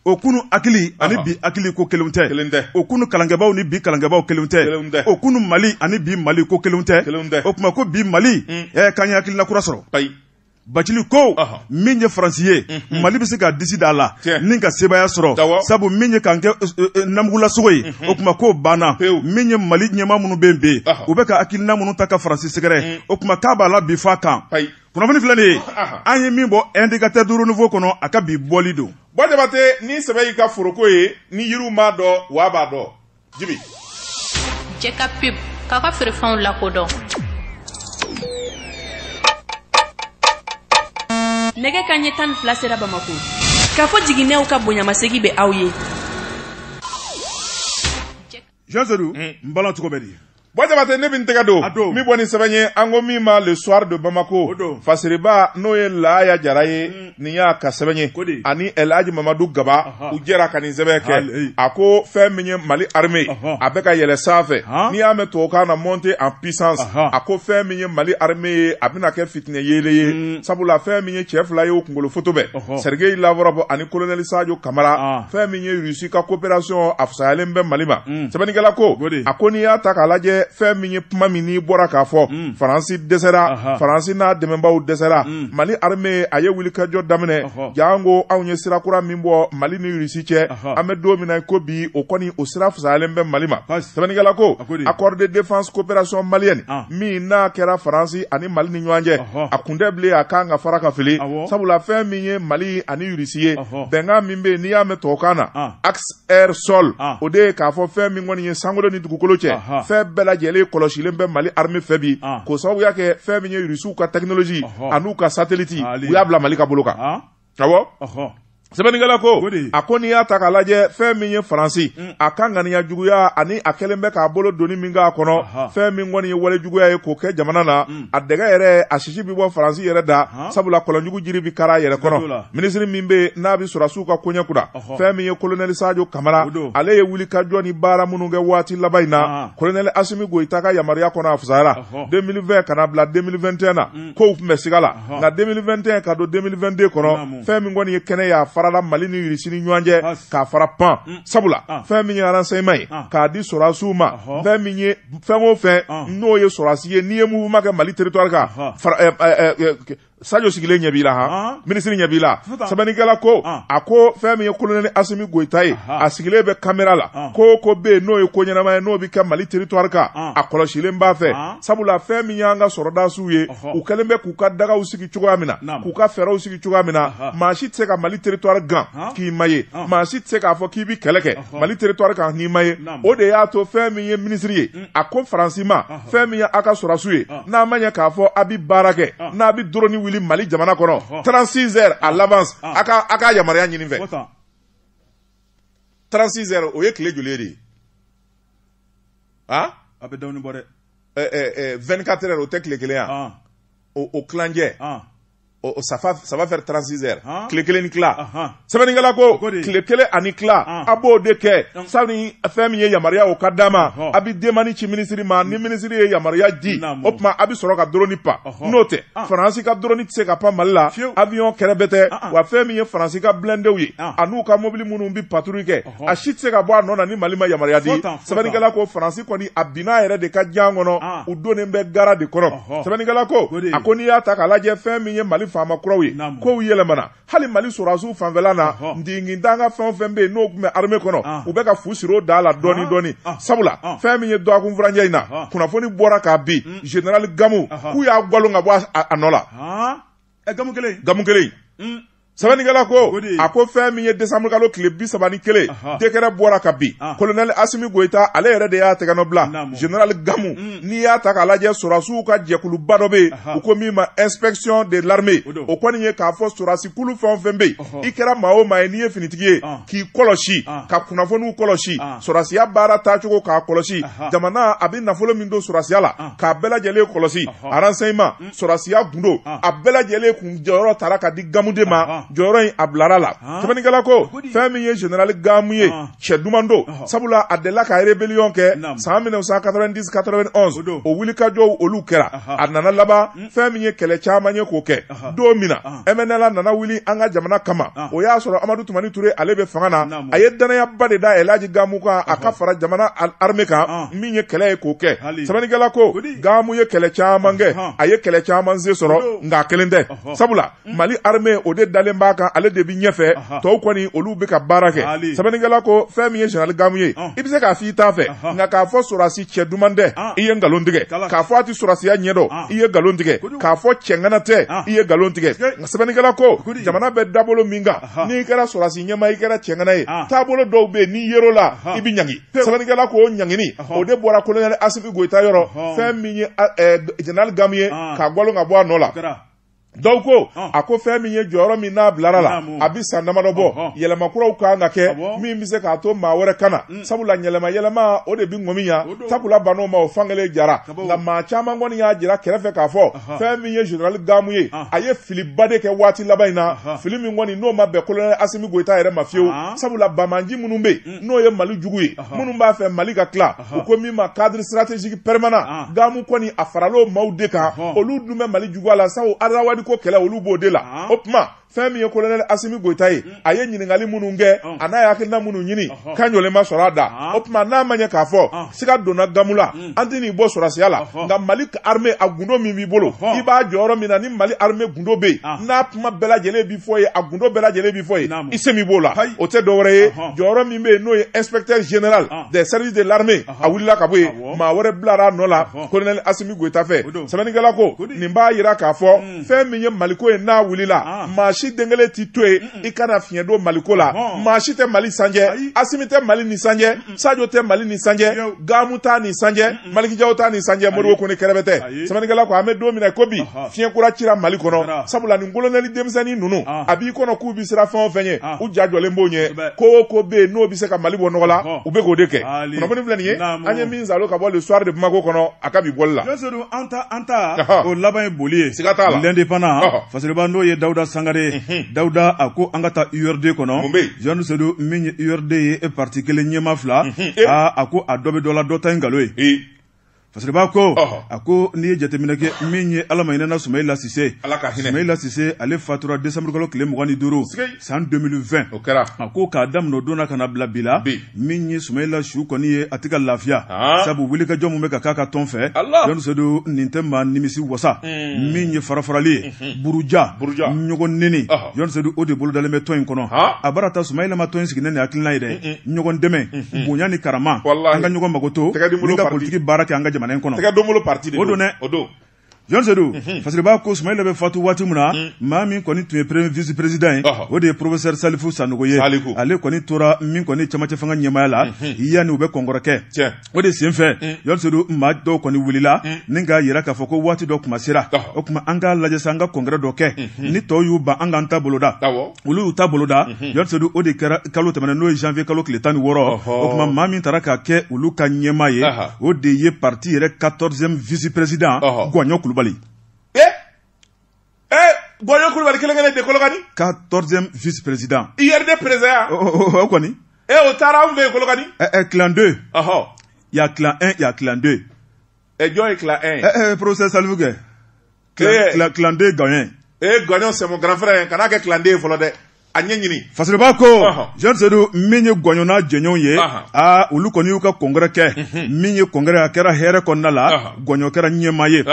o kunu hakili ani bi hakili ko kelenw tɛ o kunu kalankɛbaaw ni bi kalankɛbaaw kelenw tɛ o kunu mali ani bi mali ko kelenw tɛ o kuma ko bi mali k'an ye hakilina kura sɔrɔ Bacili ko min ye faransi ye mali bɛ se ka disi da a la ni ka sebaaya sɔrɔ sabu min ye k'an kɛ namugulasogo ye o kuma ko banna min ye mali ɲɛmaa minnu bɛ yen u bɛ ka hakilina minnu ta ka faransi sɛgɛrɛ o kuma k'a b'a la bi f'a kan kunnafoni filɛ nin ye an ye min bɔ indicateur du renouveau kɔnɔ a ka bi bɔli don bɔ jabate ni sɛbɛ y'i ka foroko ye ni yiri m'a dɔn wa b'a dɔn jibi jɛ ka pub k'aw ka feerefɛnw lakodɔn nɛgɛ kanɲɛ tan ni fila sera bamako kafo jiginɛw ka bonyamasegi bɛ aw ye jean sedu n bala cogo bɛ di bɔ jabate ne bi n tɛgɛ don min bɔ nin sɛbɛn ye an ko min ma le soir de bamako fasiriba n'o ye laaya jara ye mm. nin y'a ka sɛbɛn ye ani elhaji mamadu gaba u jɛra ka nin sɛbɛn kɛ a ko fɛn min ye mali armée a bɛ ka yɛlɛ sanfɛ n'i y'a mɛn tubabukan na monter en puissance a ko fɛn min ye mali armée ye a bɛna kɛ fitinɛ yeelen ye mm. sabula fɛn min ye cɛ fila ye o kunkolo foto bɛ sergei lavrov ani colonel sajo kamara fɛn min ye russie ka coopération a fisayalen bɛ mali ma mm. sɛbɛnnikɛla ko a ko n'i y'a ta k'a lajɛ fɛn min ye kuma min n'i bɔra k'a fɔ mm. faransi dɛsɛra faransi n'a dɛmɛbaaw dɛsɛra mm. mali arme a ye wulikajɔ daminɛ janko anw ye sira kura min bɔ mali ni irisi cɛ an bɛ don min na ko bi o kɔni o sira fisayalen bɛ mali ma sɛbɛnnikɛla ko accord de défense coopération malienne ah. min n'a kɛra faransi ani mali ni ɲɔgɔn cɛ a kun tɛ bilen a kan ka fara ka fili sabula fɛn min ye mali ani irisi ye bɛnkan min bɛ yen n'i y'a mɛn tubabukan na ah. axe air sol ah. o de ye k'a fɔ fɛn min kɔni ye sankolo ni dugukolo cɛ fɛn bɛɛ lajɛlen kɔlɔsilen bɛ mali arme fɛ bi ah. k'o sababu y'a kɛ fɛn min ye rusiw ka technologie an'u ka satellite ah, u y'a bila mali ka bolo kan awɔ sɛbɛnnikɛla ko a ko n'i y'a ta k'a lajɛ fɛn min ye faransi mm. a ka ŋaniya juguya ani a kɛlen bɛ k'a bolo doni min k'a kɔnɔ fɛn min kɔni ye wale juguya ye k'o kɛ jamana na mm. a dɛgɛ yɛrɛ a sisi bɛ bɔ faransi yɛrɛ da sabula kɔlɔnjugu jiri bi kari a yɛrɛ kɔnɔ minisiri min bɛ yen n'a bɛ sɔrɔsiw ka koɲɛ kunna fɛn min ye kolonɛli sajo kamara ale ye wulikajɔ ni baara minnu kɛ waati laban in na kolonɛli asimi goyita ka yamaruya kɔnɔ a fusayara 2020 ka na bila 2021 na mm. kow tun bɛ siga la nka 2021 ka don 2022 kɔnɔ fɛn min kɔni ye kɛnɛ y'a farala mali ni irisi ni ɲɔgɔn cɛ k'a fara pan mm. sabula fɛn min ye aransɛyima ye k'a di sɔrɔdasiw ma fɛn min ye fɛn o fɛn n'o ye sɔrɔdasi ye n'i ye mouvement kɛ mali territoire kan eh, eh, eh, sajo sigilen ɲɛ b'i la han minisiri ɲɛ b'i la sɛbɛnnikɛla ko a ko fɛn min ye kolonɛli asimi goyita ye a sigilen bɛ kamera la ko o ko bɛ yen n'o ye ko ɲɛnama ye n'o bɛ kɛ mali teritwari kan a kɔlɔsilen b'a fɛ sabula fɛn min y'an ka sɔrɔdasiw ye u kɛlen bɛ k'u ka dagaw sigi cogoya min na k'u ka fɛɛrɛw sigi cogoya min na maa si tɛ se ka mali teritwari gan k'i ma ye maa si tɛ se k'a fɔ k'i bɛ kɛlɛ kɛ mali teritwari kan n'i ma ye o de y'a to fɛn min ye minisiri ye a ko faransi ma fɛn min ye a ka sɔrɔsiw ye n'a ma ɲɛ k'a fɔ a bɛ baara kɛ n'a bɛ doroni wuli mali jamana kɔnɔ 36 heures à l'avance a ka a ka yamaruya ɲini fɛ 36 heures o ye tile joli de ye a a bɛ dɔɔnin bɔ dɛ 24 heures o tɛ tile kelen ye a o tilancɛ o ça va ça va faire 36 heures tile kelen ni tila sɛbɛnnikɛla ko tile kelen ani tila a b'o de kɛ sani fɛn min ye yamaruya o ka d'a ma a bɛ demande ci minisiri ma ni minisiri ye yamaruya di o tuma a bɛ sɔrɔ ka doroni pan n'o tɛ faransi ka doroni tɛ se ka pan mali la avion kɛrɛbɛtɛ wa fɛn min ye faransi ka blindéw ye an'u ka mobili minnu bɛ patrouille kɛ a si tɛ se ka bɔ a nɔ na ni mali ma yamaruya di sɛbɛnnikɛla ko faransi kɔni a binna yɛrɛ de ka jan kɔnɔ ah. u donnen bɛ gara de kɔnɔ sɛbɛnnikɛla ko a ko n'i y'a ta k'a lajɛ fɛn min ye mali faama kuraw ye kow yɛlɛmana hali mali sɔrɔdasiw fanfɛla na ntingintan ka fɛn o fɛn bɛ yen n'o tun bɛ arme kɔnɔ ah. u bɛ ka fu siri o da la ah. dɔɔni dɔɔni sabula fɛn min ye dɔgɔkun furancɛ in na kunnafoni bɔra ka bin general gamu k'u y'a gwalon ka bɔ a nɔ la ɛ gamu kelen gamu kelen hmm. sɛbɛnnikɛla ko a ko fɛn min ye desanburu kalo tile bi saba ni kelen dekɛrɛ bɔra ka bin ah. kolonɛli asimi goyita ale yɛrɛ de y'a tɛgɛnɔ bila general gamu hmm. n'i y'a ta k'a lajɛ sɔrɔdasiw ka jɛkuluba dɔ bɛ yen u ko min ma inspection de l'armée o kɔni ye k'a fɔ sɔrɔdasi kulu fɛn o fɛn bɛ yen i kɛra maa o maa ye n'i ye finitigi ye ah. k'i kɔlɔsi ah. ka kunnafoniw kɔlɔsi sɔrɔdasiya baara taacogo k'a kɔlɔsi jamana a bɛ nafolo min don sɔrɔdasiya la k'a bɛɛ lajɛlen kɔlɔsi renseignement sɔrɔsiya gundo ah. a bɛɛ lajɛlen kun jɔyɔrɔ tara ka di gamu de ma ah, ah. jɔyɔrɔ in a bilara la sɛbɛnnikɛla ko fɛn min ye generali gamu ye cɛ duman don sabula a delila ka rébellion kɛ san 1990 91 o wulikajɔw olu kɛra a nana laban hmm. fɛn min ye kɛlɛ caman ye k'o kɛ don min na mnla nana wuli an ka jamana kama o y'a sɔrɔ amadu tumani ture ale bɛ fanga na a ye dannayaba de da elaji gamu kan a ka fara jamana arme kan min ye kɛlɛ ye k'o kɛ sɛbɛnnikɛla ko gamu ye kɛlɛ caman kɛ a ye kɛlɛ caman se sɔrɔ nk'a kelen tɛ sabula mm. mali armé o de dalen b'a kan ale de bɛ ɲɛfɛ tɔw kɔni olu bɛ ka baara kɛ sɛbɛnnikɛla ko fɛn min ye general gamu ye i bɛ se k'a f'i t'a fɛ nka k'a fɔ sɔrɔdasi cɛ duman tɛ i ye nkalon tigɛ k'a fɔ a tɛ sɔrɔdasiya ɲɛdɔn i ye nkalon tigɛ k'a fɔ cɛŋana tɛ i ye nkalon tigɛ nka sɛbɛnnikɛla ko jamana bɛ dabolo min kan n'i kɛra sɔrɔdasi ɲɛma i kɛra cɛŋana ye taabolo dɔw bɛ yen n'i yer'o la i bɛ ɲangi sɛbɛnnikɛla ko ɲangini o de bɔra kolonɛli asimi goyita yɔrɔ fɛn min ye jenerali gamu ye k'a gwalo ka bɔ a nɔ la dɔw ko a ko fɛn min ye jɔyɔrɔ min n'a bilara la a bɛ san damadɔ bɔ yɛlɛma kuraw kan ka kɛ min bɛ se k'a to maa wɛrɛ ka na mm. sabula yɛlɛma yɛlɛma o de bɛ ŋɔmi diya takula bann'o ma o fankelen jara nka maa caman kɔni y'a jira kɛrɛfɛ k'a fɔ fɛn min ye jenerali gamu ye a ye filiba de kɛ waati laban in na fili min kɔni n'o ma bɛn kolonɛli asimi goyita yɛrɛ ma fiyewu sabula banbaanci minnu bɛ yen n'o ye mali jugu ye minnu b'a fɛ mali ka tila u ko min ma cadre stratégique permanent gamu kɔni a faral'o maaw de kan olu dun bɛ mali juguya la sabu azawadi ko kɛlɛ olu b'o de la o tuma fɛn min ye kolonɛli asimi goyita ye a ye ɲininkali minnu kɛ a n'a ye hakilina minnu ɲini kan jɔlen ma sɔrɔ a da o tuma n'a ma ɲɛ k'a fɔ siga donna gamu la an tɛn'i bɔ sɔrɔsiya la nka mali armée a gundo min b'i bolo i b'a jɔyɔrɔ min na ni mali armée gundo bɛ yen ah. n'a kuma bɛɛ lajɛlen bi fɔ yen a gundo bɛɛ lajɛlen bi fɔ yen i se min b'o la o tɛ dɔwɛrɛ ye jɔyɔrɔ min bɛ yen n'o ye inspecteur général ah. des services de l'armée a wulila ka bɔ yen maa wɛrɛ bilara a nɔ la colonel asimi goyita fɛ sɛbɛnnikɛla ko nin b'a yira k'a fɔ hmm. fɛn min ye maliko ye n'a wulila ah. maa si den kelen t'i to yen i kana fiɲɛ don maliko la maa si tɛ mali sanjɛ asimi tɛ mali ni sanjɛ sajo tɛ mali ni sanjɛ gamu t'a ni sanjɛ maliki jaw t'a ni sanjɛ modibo kɔnɛ kɛrɛbɛtɛ sɛbɛnnikɛla ko an bɛ don min na ko bi fiɲɛ kura cira mali kɔnɔ sabula nin kolonɛli denmisɛnnin ninnu a b'i kɔnɔ k'u bi siran fɛn o fɛn ye u ja jɔlen b'o ɲɛ ko o ko bɛ yen n'o bɛ se ka mali bɔ nɔgɔ la u bɛ k'o de kɛ kunnafoni filɛ nin ye an ye min salo ka bɔ le soir de bamako kɔnɔ a ka bi bɔli la an ta an ta o laban ye boli ye siga t'a la l'indépendant fasiriba n'o ye dawuda sangare dawuda a ko an ka taa urd kɔnɔ jean sedu min ye urd ye e parti kelen ɲɛmaa fila aa a ko a dɔ bɛ dɔ la dɔ ta ye nkalon ye fasiriba ko a ko n'i ye jateminɛ kɛ min ye ala ma hinɛna sumayila sise sumayila sise ale fatura desanburukalo tile mugan ni duuru san 2020 o kɛra a ko k'a daminɛ don na ka na bila bi la min ye sumayila su kɔni ye a tɛ ka lafiya ah. sabu wulikajɔ min bɛ ka k'a ka tɔn fɛ jɔni sedu nin tɛ maa nimisi wasa hmm. min ye farafarali ye hmm. buruja ɲɔgɔn neni jɔni sedu o de bolodalen bɛ tɔn in kɔnɔ a bara ta sumayila ma tɔn in sigi ni nin hakilina ye dɛ hmm, ɲɔgɔn dɛmɛ bonya ni karama an ka ɲɔgɔn makoto ni ka politiki baara kɛ an ka jamana in kɔnɔ o don dɛ jɔnsedu mhm. fasiriba ko sumayila bɛ fatu waati min na mhm. maa min kɔni tun ye premier vice président ye o de ye professeur salifu sanogo ye ale kɔni tora min kɔni camancɛ fanga ɲɛmaaya la mhm. yanni u bɛ congrès kɛ o de sen fɛ jɔnsedu maa dɔw kɔni wulila ni k'a yira k'a fɔ ko waati dɔ kuma sera o tuma an k'a lajɛ sa an ka congrès dɔ kɛ ni tɔw y'u ban an k'an ta boloda olu y'u ta boloda mhm. jean sedu o de kɛra kalo tɛmɛnen n'o ye janvier kalo tile tan ni wɔɔrɔ o tuma maa min taara ka kɛ olu ka ɲɛmaa ye o de ye parti yɛrɛ 14e vice président gɔɲɔ kulubali e eh? e eh? gɔɲɔ kulubali kelen kelen de kolokani 14e vice président urd président ya o kɔni e o taara anw fɛ yen kolokani ɛ ɛ clan 2 il y a clan 1 il y a clan 2 Eh jɔn ye clan 1. Eh, eh, professeur Saliku kɛ. Clan, clan 2 gɔɲɔ. Eh, gɔɲɔ c'est mon grand frère. Kana kɛ clan 2 fɔlɔ dɛ. a ɲɛ ɲini fasiriba ko jean sedu min ye gɔɲɔ n'a jɛɲɔgɔnw ye a olu kɔni y'u ka congrès kɛ mhm. min ye congrès a kɛra hɛrɛ kɔnɔna la gɔɲɔ kɛra ɲɛmaa ye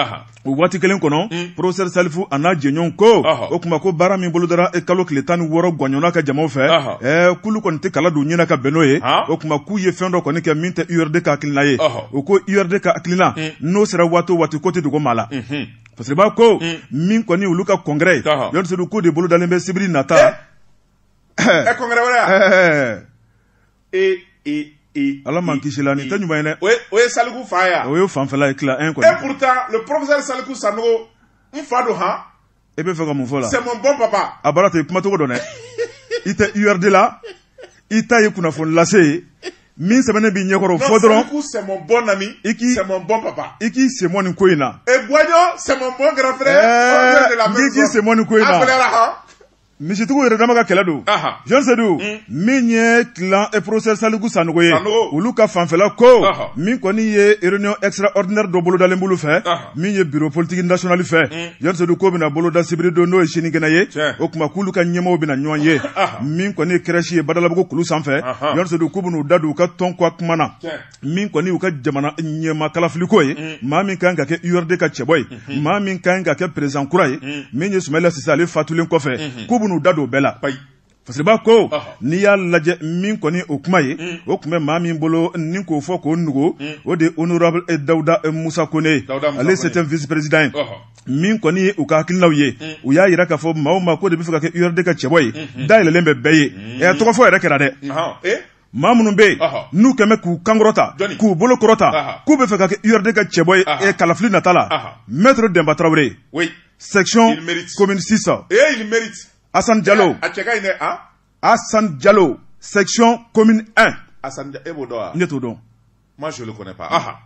o waati kelen kɔnɔ mm. professeur saliku a n'a jɛɲɔgɔnw ko o tuma ko baara min bolodara e kalo tile tan ni wɔɔrɔ gɔɲɔ n'a ka jamaw fɛ ɛɛ k'olu kɔni tɛ kala don ɲɛna ka bɛn n'o ye o tuma k'u ye fɛn dɔ kɔni kɛ min tɛ urd ka hakilina ye u ko yɛrɛde ka hakilila n'o sera waati waati ko tɛ dugu maa la parce queba ko min kɔni olu ka kɔnkɛɛrɛ yesiri ko de bolo dalen bɛ sibiri nata ala ma kisila ni tɛ ɲuman ye o ye saliku fa o ye fanla ye ki e sa sa don h e bɛ fɛ ka mun fɔ la c'est mon bon papa a baara tɛ kumacogo dɔn dɛ i tɛ urd la i ta ye kunnafoni lase ye min sɛbɛnnen b'i ɲɛkɔrɔ fɔ dɔrɔn c'est mon bon ami i k'i c'est mon bon papa i k'i senmɔ nin ko in na et gɔɲɔ c'est mon bon grand frère eh, i k'i senmɔ nin ko in na misitigiw yɛrɛ dama ka kɛlɛ don jean sedu hmm. min ye clan eh, professeur saliku sanogo ye olu ka fanfɛla ko min kɔni ye réunion extraordinaire dɔ bolodalen b'olu fɛ min ye bureau politique national fɛ hmm. jean sedu ko bɛna boloda sibiri don n'o ye sinikɛnɛ ye o tuma k'olu ka ɲɛmaaw bɛna ɲɔgɔn ye min kɔni ye CRES ye badalabugu kulu sanfɛ jean sedu k'u bɛn'u da don u ka tɔn ko kuma na min kɔni u ka jamana ɲɛmaa kalafiliko ye mm. maa min kan ka kɛ urd ka cɛbɔ ye mm-hmm. maa min kan ka kɛ président kura ye mm. min ye sumayila sise ale fatulen kɔfɛ mm-hmm. k'u bɛn'u da don bɛɛ la fasiriba ko n'i y'a lajɛ min kɔni o kuma ye mm. o tun bɛ maa min bolo ni k'o fɔ k'o nugu mm. o de ye honorable eh, dawuda eh, musa kone ye ale 7e vice président ye min kɔni ye u ka hakilinaw ye mm. u y'a yira k'a fɔ maa o maa ko de bɛ fɛ ka kɛ urd ka cɛbɔ ye mm-hmm. dayɛlɛlen bɛ bɛɛ ye eh, tɔgɔ fɔ yɛrɛ kɛra dɛ maa minnu bɛ yen n'u kɔni bɛ k'u kan kɔrɔta k'u bolo kɔrɔta k'u bɛ fɛ ka kɛ URD ka cɛbɔ ye eh, kalafili nata la Maître Denba Tarawele section commune 6 Assane Diallo Assane Diallo section commune 1 Assane e b'o dɔn wa ne t'o dɔn moi je le connais pas aha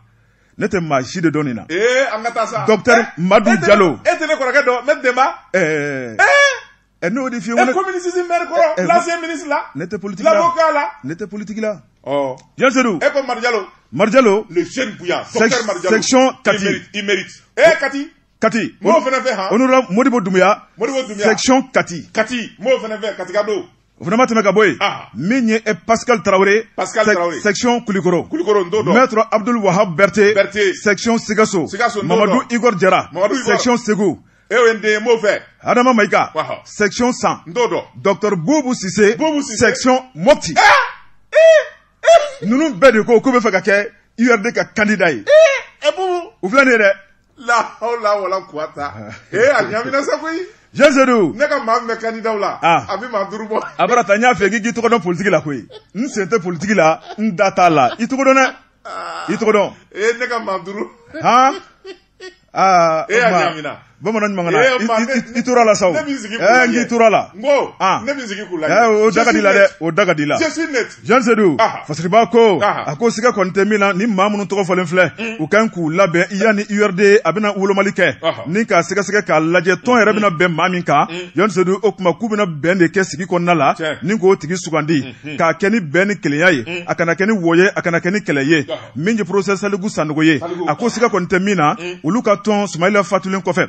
ne tɛ maa si de dɔn nin na ee an ka taa sa docteur eh, Madu Diallo e tɛ ne kɔrɔkɛ dɔn ne Denba ɛɛ eh. ɛ n'o de fiye e commune six mɛri kɔrɔ l'ancien ministre là ne tɛ politiki la l'avocat là ne tɛ politiki la ɔ jean sedu e ko madu jalo madu jalo le jeune bouillant docteur madu jalo section kati il mérite e kati kati m'o fana fɛ han honorable modibo dumuya modibo dumuya section kati kati m'o fana fɛ katika don o fana ma tɛmɛ ka bɔ yen ah. min ye eh, pascal tarawele pascal tarawele section kulikoro kulikoro n t'o dɔn maître abdul wahab berthe berthe section sikaso sikaso mamadu igor jara mamadu igor section segu e ye n den ye n b'o fɛ adama mayiga Waha. section san n t'o dɔn docteur bubu sise Bubu Sise. section mopti ninnu bɛɛ de ko k'u bɛ fɛ ka kɛ urd ka kandida ye e bubu u filɛ nin ye dɛ lahawla wala kuwata e a ɲamina sa koyi jean sedu ne ka maa min bɛ kandidaw la Ah. a bɛ maa duuru bɔ a bara ta n y'a fɛ k'i k'i tɔgɔ dɔn politiki la koyi n sen tɛ politiki la n da t'a la i tɔgɔ dɔn dɛ i tɔgɔ dɔn e ne ka maa duuru han aa e y'a ɲamina bamanan ɲuman kana i tora la saw ɛɛ n k'i tora la n ko ne bɛ sigi k'u lajɛ ɛɛ o da ka di la dɛ o da ka di la jean sedu fasiriba ko a ko siga kɔni tɛ min na ni maa minnu tɔgɔ fɔlen filɛ u ka kan k'u labɛn yanni urd a bɛna wolomali kɛ ni k'a sɛgɛsɛgɛ k'a lajɛ tɔn yɛrɛ bɛna bɛn maa min kan jean sedu o tuma k'u bɛna bɛn de kɛ sigi kɔnɔna la ni k'o tigi sugandi k'a kɛ ni bɛn ni kelenya ye a kana kɛ ni wɔyɔ ye a kana kɛ ni kɛlɛ ye min ye professeur saliku sanogo ye a ko siga kɔni tɛ min na olu ka tɔn sumayila fatulen kɔfɛ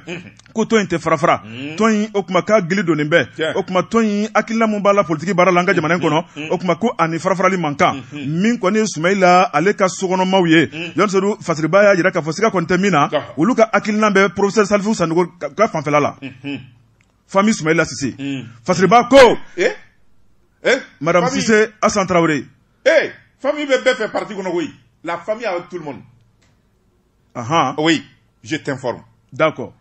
ko tɔn in tɛ farafara tɔn in o kuma ka gili don bɛɛ o tuma tɔn in hakilina min b'a la politigi baara la an ka jamana kɔnɔ o tuma ko a ni farafarali man kan min kɔni sumayila ale ka sokɔnɔmaw ye jean sedu fasiriba y'a jira k'a fɔ siga kɔni tɛ min na olu ka hakilina bɛ professeur salifu sanogo ka fanfɛla la famille sumayila sise fasiriba ko madame sise asan tarawele ee famille bɛ bɛɛ fɛ parti kɔnɔ koyi la famille avec tout le monde ahan oui je t'informe d'accord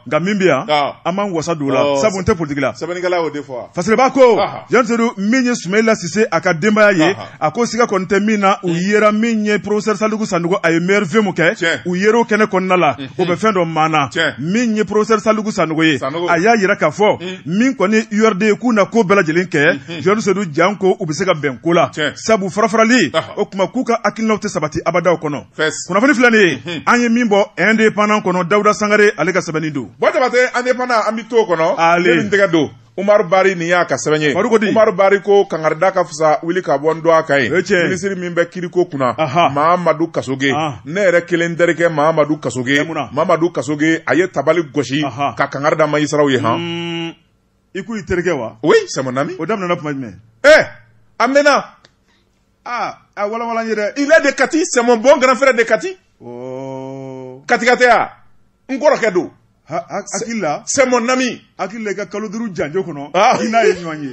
nka min bɛ yan ah. an b'an wasa don o la oh. sabu n tɛ politiki la sɛbɛnnikɛla y'o de fɔ fasiriba ko jean sedu min ye sumayila sise a ka denbaya ye a ko siga kɔni tɛ min na u hmm. yera min ye professeur saliku sanogo a ye maire vemu kɛ u yer'o kɛnɛ kɔnɔna la hmm. o bɛ fɛn dɔ maana min ye professeur saliku sanogo ye a y'a yira k'a fɔ hmm. min kɔni urd k'u na ko bɛɛ lajɛlen kɛ jean sedu janko u bɛ se ka bɛn ko la sabu farafarali o tuma k'u ka hakilinaw tɛ sabati abadaw kɔnɔ kunnafoni filɛ nin ye an ye min bɔ indépendant kɔnɔ dawuda sangare ale ka sɛbɛnni don bon jabatɛ indépendant an bɛ to kɔnɔ ale tɛgɛ don umaru bari nin y'a ka sɛbɛn ye umaru bari ko kangari da ka fisa wuli ka bɔ n dɔgɔ kan ye minisiri min bɛ kiiriko kunna mahamadu kasoge ah. ne yɛrɛ kelen terikɛ mahamadu kasoge mahamadu kasoge a ye tabali gosi ka kangari da magistratw ye han hmm. i ko i terikɛ wa oui c'est mon ami o daminɛna tuma jumɛn eh a mɛnna ah a walawala n ye dɛ il est de Kati c'est mon bon grand frère de Kati oh katika tɛ ya n kɔrɔkɛ don hakili la c'est mon ami hakili la i ka kalo duuru janjo kɔnɔ ah. i n'a ye ɲɔgɔn ye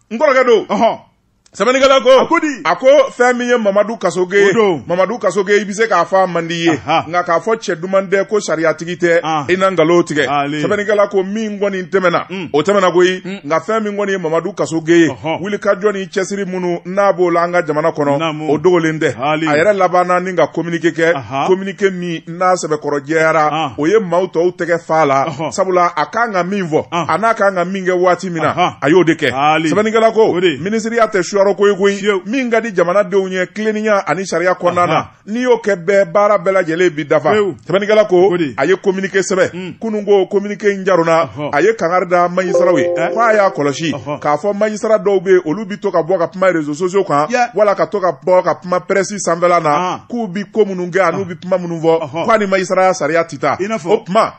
n kɔrɔkɛ don ɔhɔn sɛbɛnnikɛla ko a ko di a ko fɛn min ye mamadu kasoge ye mamadu kasoge i bɛ se k'a fɔ a man di i ye nka k'a fɔ cɛ duman tɛ ko sariyatigi tɛ ah. i na nkalon tigɛ sɛbɛnnikɛla ko min kɔni tɛmɛna mm. o tɛmɛna koyi mm. nka fɛn min kɔni ye mamadu kasoge ye wulikajɔ ni cɛsiri minnu n'a b'o la an ka jamana kɔnɔ o dogolen tɛ a yɛrɛ labanna ni ka kominike kɛ kominike min n'a sɛbɛkɔrɔ jɛyara ah. o ye maaw to u tɛgɛ f'a la sabula a kan ka min fɔ ah. a n'a kan ka min kɛ waati min na a y'o de kɛ sɛbɛnnikɛla ko minisiriya tɛ suyɔrɔ koyi ko min ka di jamanadenw ye tilennenya ani sariya kɔnɔna na n'i y'o kɛ bɛɛ baara bɛɛ lajɛlen b'i dafa sɛbɛnnikɛla ko a ye kominike sɛbɛn hmm. kunun ko kominike in jarona a ye kangari da majisaraw ye eh. k'a y'a kɔlɔsi k'a fɔ majisara dɔw bɛ yen olu bi to ka bɔ ka kuma rezo sosiyo kan wala ka to ka bɔ ka kuma pɛrɛsi sanfɛla na ah. k'u bi ko minnu kɛ an'u bi kuma minnu fɔ Ɔhɔn. ko a ni majisaraya sariya tɛ taa I n'a fɔ- o kuma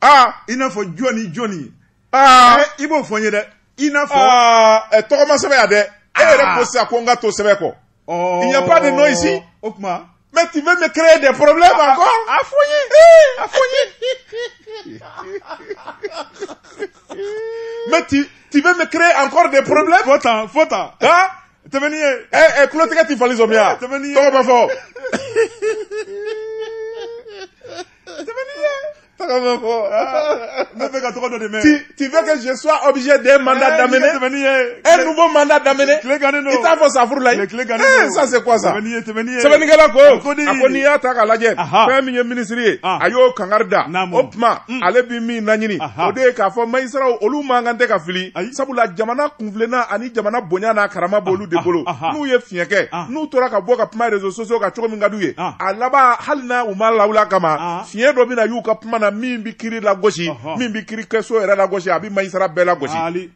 aa i n'a fɔ jɔni jɔni aa Eh, i b'o fɔ n ye dɛ i n'a fɔ aa ɛ, tɔgɔ ma sɛbɛn yan dɛ e yɛrɛ Ah. ko sisan ko n ka to sɛbɛn kɔ Ɔɔ, il n'y a pas de nom ici. o tuma mais tu veux me créer des problèmes encore a fɔ n ye a fɔ n ye mais tu tu veux me créer encore des problèmes fɔ tan fɔ tan ah tɛmɛni ye ɛ ɛ kulotigɛ tɛ fali sɔmi ya tɛmɛni ye tɔgɔ bɛ fɔ tɛmɛni ye tɔgɔ bɛ fɔ ne bɛ ka tɔgɔ dɔ de mɛn tu veux que je sois objet d'un mandat eh, d'amener tɛmɛni ye un nouveau mandat d'amener tile gannen don i t'a fɔ safurulayi tile gannen don ça c'est quoi ça tɛmɛni ye tɛmɛni ye sɛbɛnnikɛla ko a ko n'i y'a ta k'a lajɛ fɛn min ye minisiri ye ah. a y'o kangari da o tuma mm. ale bi min laɲini o de ye k'a fɔ majisiraw olu man kan tɛ ka fili sabula jamana kun tilenna ani jamana bonya n'a karama ah, b'olu de ah, bolo ah, n'u ye fiɲɛ kɛ n'u tora ka bɔ ka kuma reseaux sociaux kan cogo min ka d'u ye a laban hali n'a u m'a lawuli a kama fiɲɛ dɔ bɛna y'u ka kuma na min bɛ kiri lagosi min bɛ kiri kɛso yɛrɛ lagosi a bɛ mayisara bɛɛ lagosi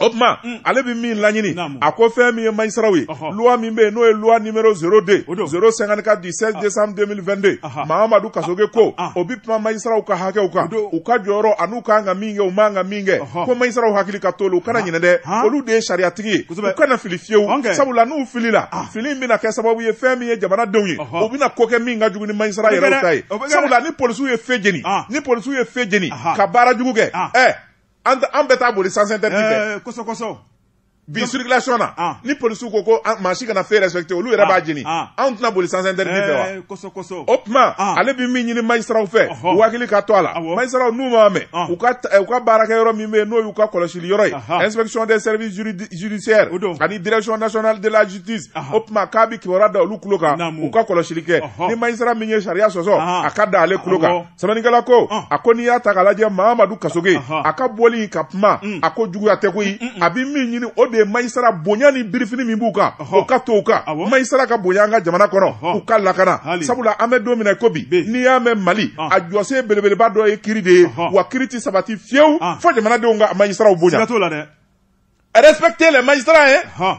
o tuma mm. ale bɛ min laɲini a ko fɛn min ye mayisaraw ye loi min bɛ yen n'o ye loi numéro 02 054 du 16 décembre 2022 mamadu kasoge ko o bɛ kuma mayisaraw ka hakɛw kan u ka jɔyɔrɔ an'u ka kan ka min kɛ u man ka min kɛ ko mayisaraw hakili ka t'o la u kana ɲinɛ dɛ olu de ye sariyatigi ye u kana fili fiyewu sabula n'u filila fili in bɛna kɛ sababu ye fɛn min ye jamanadenw ye u bɛna ko kɛ min ka jugu ni mayisara yɛrɛw ta ye sabula ni polisiw ye fe jeni ni polisiw ye fe jeni ka baara jugu kɛ ɛ an bɛ taa boli sens interdit fɛ kosɛbɛ kosɛbɛ bi circulation na ah. ni polisiw ko ko maa si kana feu respecter olu yɛrɛ ah. b'a jeni ah. anw tɛna boli sens interdit fɛ wa eh, o tuma ale bi min ɲini majisiraw fɛ u hakili ka to a la majisiraw n'u m'a mɛn u ka eh, u ka baarakɛ yɔrɔ min bɛ yen n'o y'u ka kɔlɔsili yɔrɔ ye inspection des services judiciaires ani direction nationale de la justice o tuma k'a bi kibaruya da olu tulo kan u ka kɔlɔsili kɛ ni majisira min ye sariya sɔsɔ a ka da ale tulo kan sɛbɛnnikɛla ko ah. a ko n'i y'a ta k'a lajɛ mamadu kasoge a ka bɔli ka kuma mm. a ko juguya tɛ koyi mm, mm, a bɛ min ɲini o de ye majisira bonya ni birifini min b'u kan o ka to u kan majisira ka bonya an ka jamana kɔnɔ u ka lakana sabula an bɛ don min na ko bi n'i y'a mɛn mali ah. a jɔsen belebeleba dɔ ye kiri de ye wa kiri tɛ sabati fiyewu ah. fo jamanadenw ka majisiraw bonya respectez les magistrats hein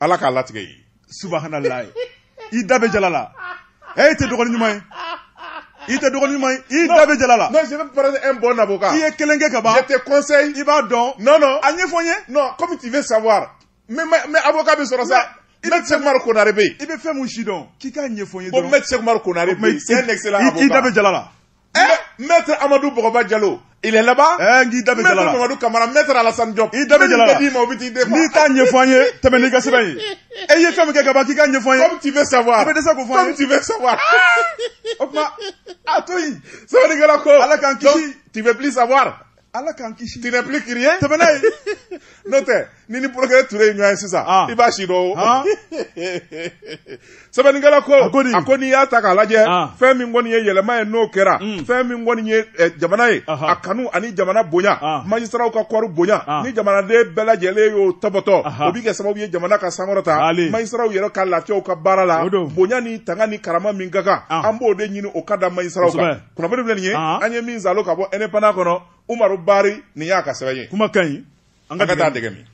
ala k'a latigɛ ye subahanallahi i da bɛ jala la ɛ i tɛ dɔgɔni ɲuman ye i tɛ dɔgɔni ɲuman ye i da bɛ jala la non je vais prendre un bon avocat i ye kelen kɛ ka ban je te conseille i b'a dɔn non non a ɲɛfɔ n ye non comme tu veux savoir mais mais avocat bɛ sɔrɔ sa Maître Cheikh Oumar Konare bɛ yen i bɛ fɛn min sidɔn k'i k'a ɲɛfɔ n ye dɔrɔn bon Maître Cheikh Oumar Konare bɛ yen c'est un excellent avocat i da bɛ jala la Maître Amadou Bɔgɔba Jalo il est là-bas eh, n'i da bɛ jala la Maître Mamadou Kamara Maître Alassane Diop i da bɛ jala la n'i t'a ɲɛfɔ an ye tɛmɛ n'i ka sɛbɛn ye e ye fɛn min kɛ ka ban k'i k'a ɲɛfɔ an ye comme tu veux savoir i bɛ dɛsɛ k'o fɔ an ye comme tu veux savoir o tuma a to yen sɛbɛnnikɛla ko Ala k'an kisi tu veux plus savoir ala k'an kisi tu n'es plus curieux tɛmɛ n'a ye n'o tɛ n'i ni procureur ture ye ɲɔgɔn ye sisan ah. i b'a sidɔn ah. sɛbɛnnikɛla ko a ko n'i y'a ta k'a lajɛ ah. fɛn min kɔni ye yɛlɛma ye n'o kɛra hmm. fɛn min kɔni ye eh, jamana ye a kanu ani jamana bonya majisiraw ka kɔɔri bonya ni jamanaden bɛɛ lajɛlen y'o tɔbɔtɔ o bɛ kɛ sababu ye jamana ka sankɔrɔta majisiraw yɛrɛ ka lafiya u ka baara la bonya ni tanga ni karama min ka kan an b'o de ɲini o ka da majisiraw kan kunnafoni filɛ nin ye Aa. an ye min zalo ka bɔ indépendant kɔnɔ umaru bari nin y'a ka sɛbɛn ye kuma ka ɲi an ka taa dɛgɛ min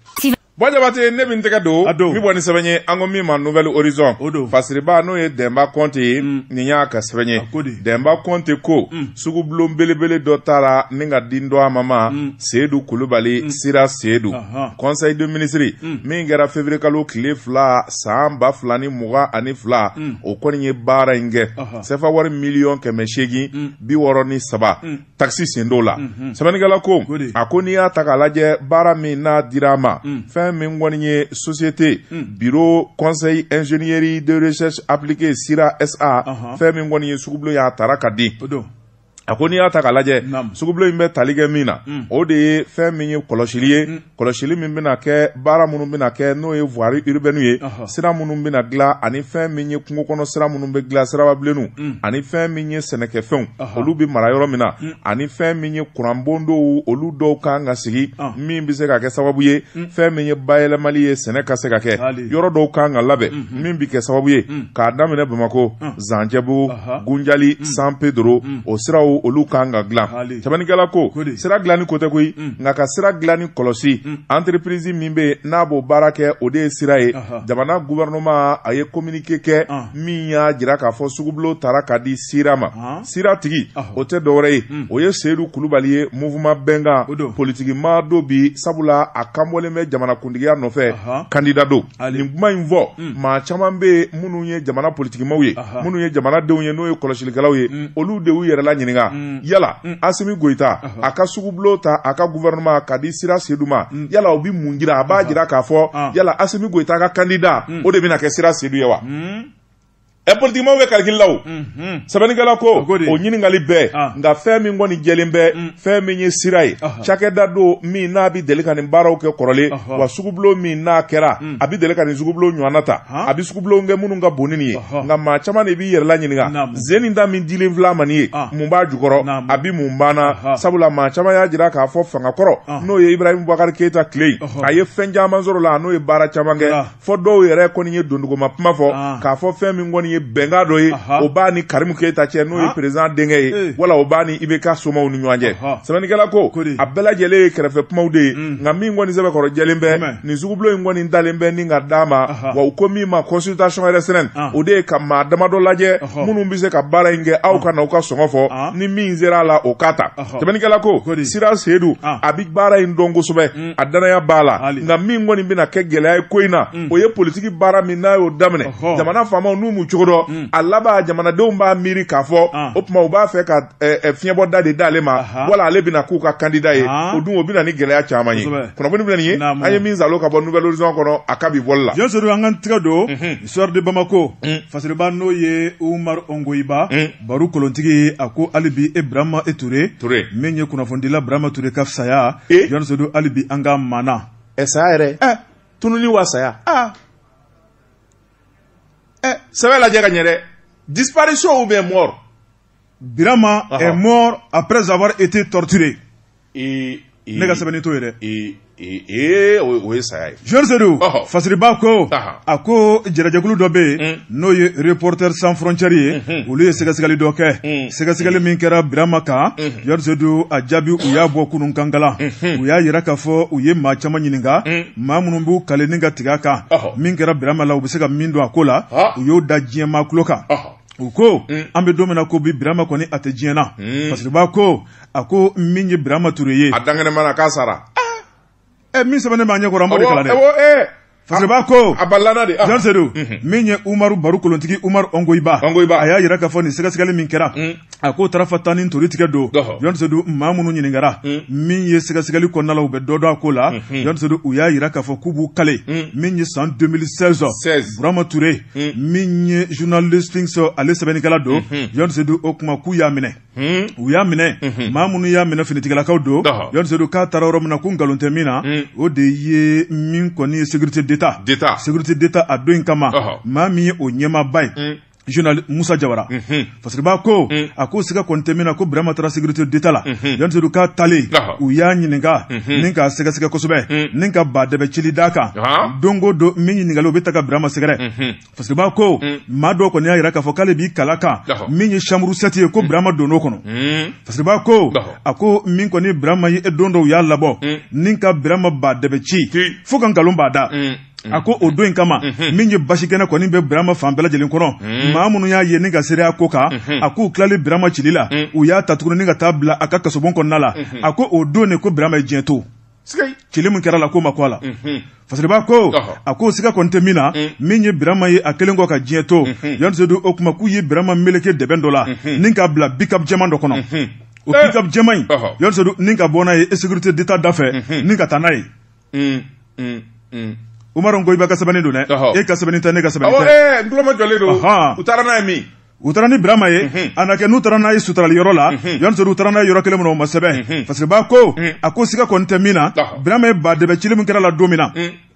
bon jabate ne bɛ n tɛgɛ don A don. n bi bɔ ni sɛbɛn ye an ko min ma nouvel horizon O don. fasiriba n'o ye dɛnba kɔnte ye Mm. nin y'a ka sɛbɛn ye A ko di? dɛnba kɔnte ko Mm. sugubulon belebele dɔ tara ni k'a di dɔ a ma ma Mm. seyidu kulubali CIRA seyidu Ahan. conseil des ministres Mm. min kɛra février kalo tile fila san ba fila ni mugan ani fila Mm. o kɔni ye baara in kɛ Ahan. sefa wari miliyɔn kɛmɛ seegin mm. bi wɔɔrɔ ni saba mm. takisi sen t'o la mm-hmm. sɛbɛnnikɛla ko a ko n'i y'a ta k'a lajɛ baara min n'a dira a ma mm. fɛn min kɔni ye société bureau conseil ingénierie de recherche appliquée CIRA SA uh-huh. fɛn min kɔni ye sugubulon ye a tara k'a di a ko n'i y'a ta k'a lajɛ sugubulon in bɛ tali kɛ min na mm. o de ye fɛn min ye kɔlɔsili ye mm. kɔlɔsili min bɛna kɛ baara minnu bɛna kɛ n'o ye voirie urbaine ye sira minnu bɛna dilan ani fɛn min ye kungo kɔnɔ sira minnu bɛ dilan sirababilenninw mm. ani fɛn min ye sɛnɛkɛfɛnw olu bɛ mara yɔrɔ min na ani fɛn min ye kuranbon dɔw olu dɔw kan ka sigi min bɛ se ka kɛ sababu ye fɛn min ye bayɛlɛmali ye sɛnɛ ka se ka kɛ yɔrɔ dɔw kan ka labɛn min bɛ kɛ sababu ye k'a daminɛ bamakɔ zancɛbugu gunjali san pedro o siraw olu kan ka dilan sɛbɛnnikɛla ko sira dilani ko tɛ koyi nka ka sira dilani kɔlɔsi entreprise min bɛ n'a b'o baara kɛ o de ye sira ye jamana gouvernement a ye kominike kɛ min y'a jira k'a fɔ sugubulo tara ka di sira ma sira tigi o tɛ dɔwɛrɛ ye o ye seyidu kulubali ye mouvement bɛnkan politikimaa don bi sabula a kanbɔlen bɛ jamanakuntigiya nɔfɛ kandida don nin kuma in fɔ hmm. maa caman bɛ minnu ye jamana politikimaaw ye minnu ye jamanadenw ye n'o ye kɔlɔsilikɛlaw ye hmm. olu de y'u yɛrɛla ɲininka hmm. yala asimi goyita a ka sugubulo ta a ka guvɛrɛnɛma ka di sira seyidu ma yala o bɛ mun jira a b'a jira k'a fɔ yala asimi goyita ka kandida o de bɛna kɛ sira seyidu ye wa ɛ politikimaaw bɛ kalikili la o sɛbɛnnikɛla ko o ɲininkali bɛɛ ah. nka fɛn min kɔni jɛlen bɛ mm. fɛn min ye sira ye cakɛda don min n'a bɛ deli ka nin baaraw kɛ kɔrɔlen wa sugubulon min n'a kɛra mm. a bɛ deli ka nin sugubulon ɲɔgɔnna ta a bɛ sugubulon kɛ minnu ka bon ni nin ye nka maa caman de b'i yɛrɛla ɲininka sen in ta min dilen filɛ a ma nin ye ah. mun b'a jukɔrɔ a bɛ mun banna sabula maa caman y'a jira k'a fɔ fanga kɔrɔ ah. n'o ye ibrahim bubakari keyita tile a ye fɛn caman sɔrɔ la n'o ye baara caman kɛ fɔ dɔw yɛrɛ kɔni ye dunduguma kuma fɔ ah. k'a fɔ fɛn min kɔni ye bɛnkan dɔ ye o b'a ni karimu keyita cɛ n'o ye ah. perezidan denkɛ ye eh. wala o b'a ni IBK somaw ni ɲɔgɔn cɛ sɛbɛnnikɛla ko a bɛɛ lajɛlen ye kɛrɛfɛ kumaw de ye mm. nka min kɔni sɛbɛkɔrɔ jɛlen bɛ nin sugubulo in kɔni talen bɛ ni ka d'a ma wa u ko min ma consultation restreinte ah. o de ye ka maa damadɔ lajɛ minnu bɛ se ka baara in kɛ aw ka na u ka sɔngɔ fɔ ni min sera a la o k'a ta sɛbɛnnikɛla ko sira seyidu a bɛ baara in dɔn kosɛbɛ mm. a danaya b'a la Hali. nka min kɔni bɛna kɛ gɛlɛya ye ko in na o ye politiki baara min n'a y'o daminɛ Ɔhɔ. jamana faamaw n'u m'u cogo dɔn a laban jamanadenw b'a miiri k'a fɔ Ah. o tuma u b'a fɛ ka eh, eh, fiɲɛbɔda de d'ale ma Aha. wala ale bɛna k'u ka kandida ye Ah. o dun o bɛna ni gɛlɛya caman ye Kosɛbɛ. kunnafoni bɛ nin ye Naamu. an ye min zalo ka bɔ nouvel horizon kɔnɔ a ka bi bɔli la Diɲɛ sɔrɔ an ka tigɛ don soir de Bamako fasiriba n'o ye Umar Ongoyiba baro kolontigi a ko hali bi e birama e ture ture min ye kunnafonidila birama ture ka saya e jɔnnisodo hali bi an ka maana ɛ saya yɛrɛ ɛ tununi wa saya aa ɛ sɛbɛ lajɛ ka ɲɛ dɛ disparition ou bien mort birama est mort après avoir été torturé ee ee ne ka sɛbɛnni t'o ye dɛ ee ee ee o ye- o ye saya ye Georges Seydou Ɔhɔ. fasiriba ko Aha. a ko jɛrɛjɛkulu dɔ bɛ yen Mm. n'o ye Reporters sans frontières ye Mhm. olu ye sɛgɛsɛgɛli dɔ kɛ Mm. sɛgɛsɛgɛli min kɛra Birama kan Mhm. Georges Seydou a jaabi u y'a bɔ kunun kankala Mhm. u y'a yira k'a fɔ u ye maa caman ɲininka Mm. maa minnu b'u kale ni ka tigɛ a kan Ɔhɔ. min kɛra Birama la u bɛ se ka min don a ko la Ah. u y'o da diɲɛ maa tulo kan Ɔhɔ. u ko Mm. an bɛ don min na ko bi birama kɔni a tɛ diɲɛ na Mm. fasiriba ko a ko min ye birama ture ye a dankɛnɛmana k'a sara ɛ eh, min sɛbɛnnen b'a ɲɛ kɔrɔ an b'o de kalan dɛ eh. fasiriba ko a balana de ah. jan sedu mhm. min ye umaru baru kolontigi umaru ɔngoyiba ɔngoyiba a y'a yira k'a fɔ nin sɛgɛsɛgɛli min kɛra mm. a k'o tarafa tan ni tori tigɛ don jan sedu maa minnu ɲininkara mm. min ye sɛgɛsɛgɛli kɔnɔna la u bɛ dɔ dɔn a ko la mhm. jan sedu u y'a yira k'a fɔ k'u b'u kale mm. min ye san 2016 birama ture min ye journal Sphinx ale sɛbɛnnikɛla don jan mhm. sedu o kuma k'u y'a minɛ Hmm. u y'a minɛ hmm. maa minnu y'a minɛ finitigilakaw don jan sedu k'a taara yɔrɔ min na ko nkalon tɛ min na hmm. o de ye min kɔni ye sécurité d'état sécurité d'état a don in kama maa min ye o ɲɛmaaba ye général Moussa Jawara mm -hmm. fasiriba ko mm -hmm. a ko siga kɔni tɛ min na ko Birama taara sécurité d'état la mm -hmm. jan sedu k'a talen uh -huh. u y'a ɲininka mm -hmm. ni k'a sɛgɛsɛgɛ kosɛbɛ mm -hmm. ni ka ba dɛbɛ cili d'a kan uh -huh. don o don min ɲininkali o bɛ taa ka Birama sɛgɛrɛ mm -hmm. fasiriba ko mm. maa dɔ kɔni y'a yira k'a fɔ k'ale b'i kal'a kan min ye chambre 7 ye ko mm. birama donn'o kɔnɔ mm. fasiriba ko a ko min kɔni birama ye don dɔw y'a labɔ ni ka birama ba dɛbɛ ci fo ka nkalon b'a da Mm-hmm. a ko o don in kama mm-hmm. min ye basi kɛnɛ kɔni bɛ birama fan bɛɛ lajɛlen kɔnɔ mm-hmm. maa minnu y'a ye ni ka seereya k'o kan a k'u tilali birama cili la u y'a ta tuguni ni ka taa bila a ka kasobon kɔnɔna la a ko o don de ko birama ye diɲɛ to cili min kɛra la ko ma ko a la fasiriba ko a ko siga kɔni tɛ min na min ye birama ye a kɛlen kɔ ka diɲɛ to jan sedu o kuma k'u ye birama meleke dɛbɛn dɔ la ni k'a bila pick-up jɛman dɔ kɔnɔ o pick-up jɛman in jan sedu ni ka bɔ n'a ye sécurité d'état da fɛ ni ka taa n'a ye umaru ɔngoyiba ka sɛbɛnni don dɛ e ka sɛbɛnni tɛ ne ka sɛbɛnni tɛ n tuloma jɔlen don u taara n'a ye min u taara ni birama ye mhm. a na kɛ n'u taara n'a ye sutarali yɔrɔ la mhm. jan sedu u taara n'a ye yɔrɔ kelen min na o ma sɛbɛn mhm. fasiriba ko a ko siga kɔni tɛ min na birama ye ba dɛbɛ cili min kɛra la don min na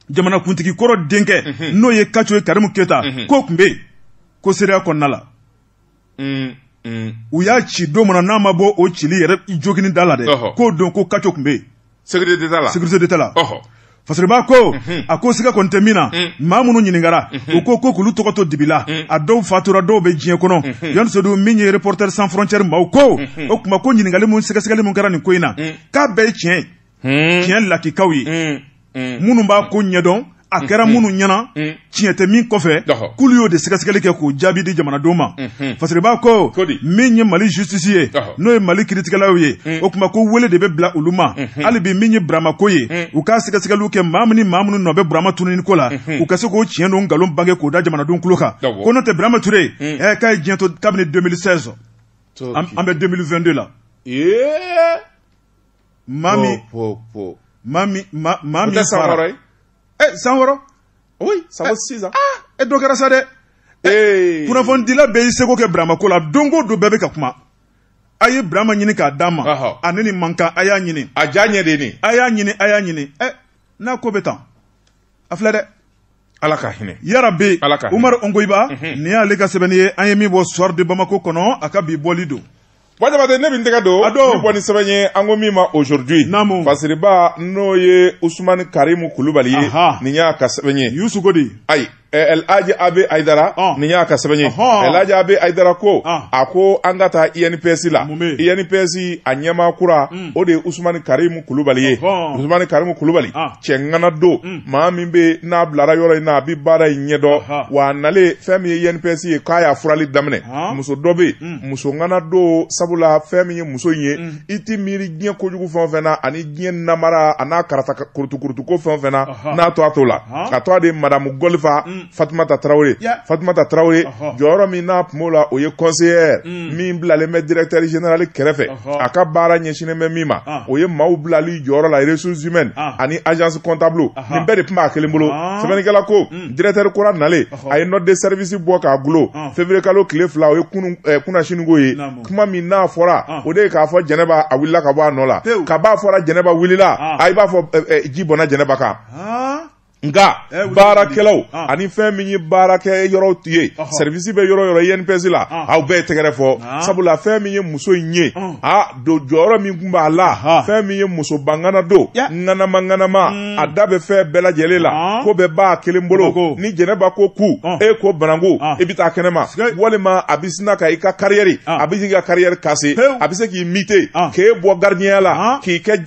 jamanakuntigi kɔrɔ denkɛ n'o ye kaco ye karimu keta k'o tun bɛ yen ko seereya kɔnɔna la u y'a ci don min na n'a ma bɔ o cili yɛrɛ jogini da la dɛ k'o don ko kaco tun bɛ yen Sécurité d'Etat la. Sécurité d'Etat la. Ɔhɔ. fasiriba ko mhm. a ko siga kɔni tɛ min na mhm. maa minnu ɲininkara mhm. u ko ko k'olu tɔgɔ to dibi la a dɔw fatura dɔw bɛ diɲɛ kɔnɔ jan sedu min ye Reporters sans frontières maaw ko o kuma ko ɲininkali min sɛgɛsɛgɛli min kɛra nin ko in na k'a bɛɛ ye tiɲɛ ye tiɲɛ lakikaw ye minnu b'a ko ɲɛdɔn a mm-hmm. kɛra minnu ɲɛna mm-hmm. tiɲɛ tɛ min kɔfɛ k'olu y'o de sɛgɛsɛgɛli kɛ k'o jaabi di jamanadenw ma mm-hmm. fasiriba ko min ye mali justice ye n'o ye mali kiritigɛlaw ye mm. o tuma ko wele de bɛ bila olu ma hali bi min ye burama ko ye mm. u k'a sɛgɛsɛgɛliw kɛ maa min ni maa minnu nɔ bɛ burama tununi ko la u ka se k'o tiɲɛ n'o nkalon bange k'o da jamanadenw tulo kan ko n'o tɛ burama ture mm. ɛ k'a ye diɲɛ to kabini 2016 an bɛ 2022 la Mami. Po, po, Mami, ma, mami. Tɛ san wɔɔrɔ ye. Eh, san wɔɔrɔ. Oui, ça vaut 6 ans. Ah, e dɔ kɛra sa dɛ. Eh, kunnafonidila bɛɛ y'i seko kɛ Burama ko la. Don o don bɛɛ bɛ ka kuma. A ye Burama ɲini k'a d'a ma. Ɔhɔ. A ne ni man kan, a y'a ɲini. A ja ɲɛ de ye nin ye. A y'a ɲini, a y'a ɲini. Eh, n'a ko bɛ tan. A filɛ dɛ. ala ka hinɛ yarabi umaru ongoiba mhm. nin y'ale ka sɛbɛnni ye an ye min bɔ soir de bamako kɔnɔ a ka bi bɔli don wa Jabate ne bɛ n tɛgɛ don ka bɔ ni sɛbɛn ye an ko min ma aujourd'hui naamu fasiriba n'o ye Usumani Karimu Kulubali ye nin y'a ka sɛbɛn ye Yusu ko di ayi El Hadji AB Haidara nin y'a ka sɛbɛn ye El Hadji AB Haidara ko a ko an ka taa INPS la INPS a ɲɛmaa kura o de ye Usumani Karimu Kulubali ye Usumani Karimu Kulubali cɛ ŋana don mm. maa min bɛ n'a bilara yɔrɔ in na a bɛ baara in ɲɛdɔn wa a nalen fɛn min ye INPS ye k'a y'a furali daminɛ muso dɔ bɛ yen mm. muso ŋana don sabula fɛn min ye muso in ye mm. i tɛ miiri diɲɛ kojugu fɛn o fɛn na ani diɲɛ namara a n'a karata kurutukurutu ko fɛn o fɛn na n'a tɔgɔ t'o la a tɔgɔ de madamu gɔlifa fatumata tarawele fatumata tarawele jɔyɔrɔ min n'a tun b'o la o ye conseillère mm. min bilalen bɛ directeur général kɛrɛfɛ a ka baara ɲɛsinnen bɛ min ma ah. o ye maaw bilali jɔyɔrɔ la ressources humaines ah. ani agence comptable nin bɛɛ de tun b'a kelen bolo ah. sɛbɛnnikɛla ko mm. directeur kura nalen a ye note de service bɔ k'a gulon février kalo tile fila o ye kunu eh, kunasinikɔ ye kuma min n'a fɔra o de ye k'a fɔ jɛnɛba a wulila ka bɔ a nɔ la kab'a fɔra jɛnɛba wulila a i b'a fɔ eh, eh, ji bɔnna jɛnɛba kan nka eh, baarakɛlaw ah. ani fɛn min ye baarakɛ yɔrɔw ye sɛrivisi bɛ yɔrɔ o yɔrɔ INPS la ah. aw bɛɛ tɛgɛrɛ fɔ ah. sabula fɛn min ye muso in ye a don jɔyɔrɔ min tun b'a la fɛn min ye musoba ŋana don ŋanama ŋanama hmm. a da bɛ fɛn bɛɛ lajɛlen la ko bɛɛ b'a kelen bolo ni jɛnɛba ko ku e ko bananku i bɛ taa kɛnɛma walima a bɛ sina ka i ka kariyɛri a bɛ k'i ka kariyɛri kase a bɛ se k'i mite k'e bɔ garidiyɛnya la k'i kɛ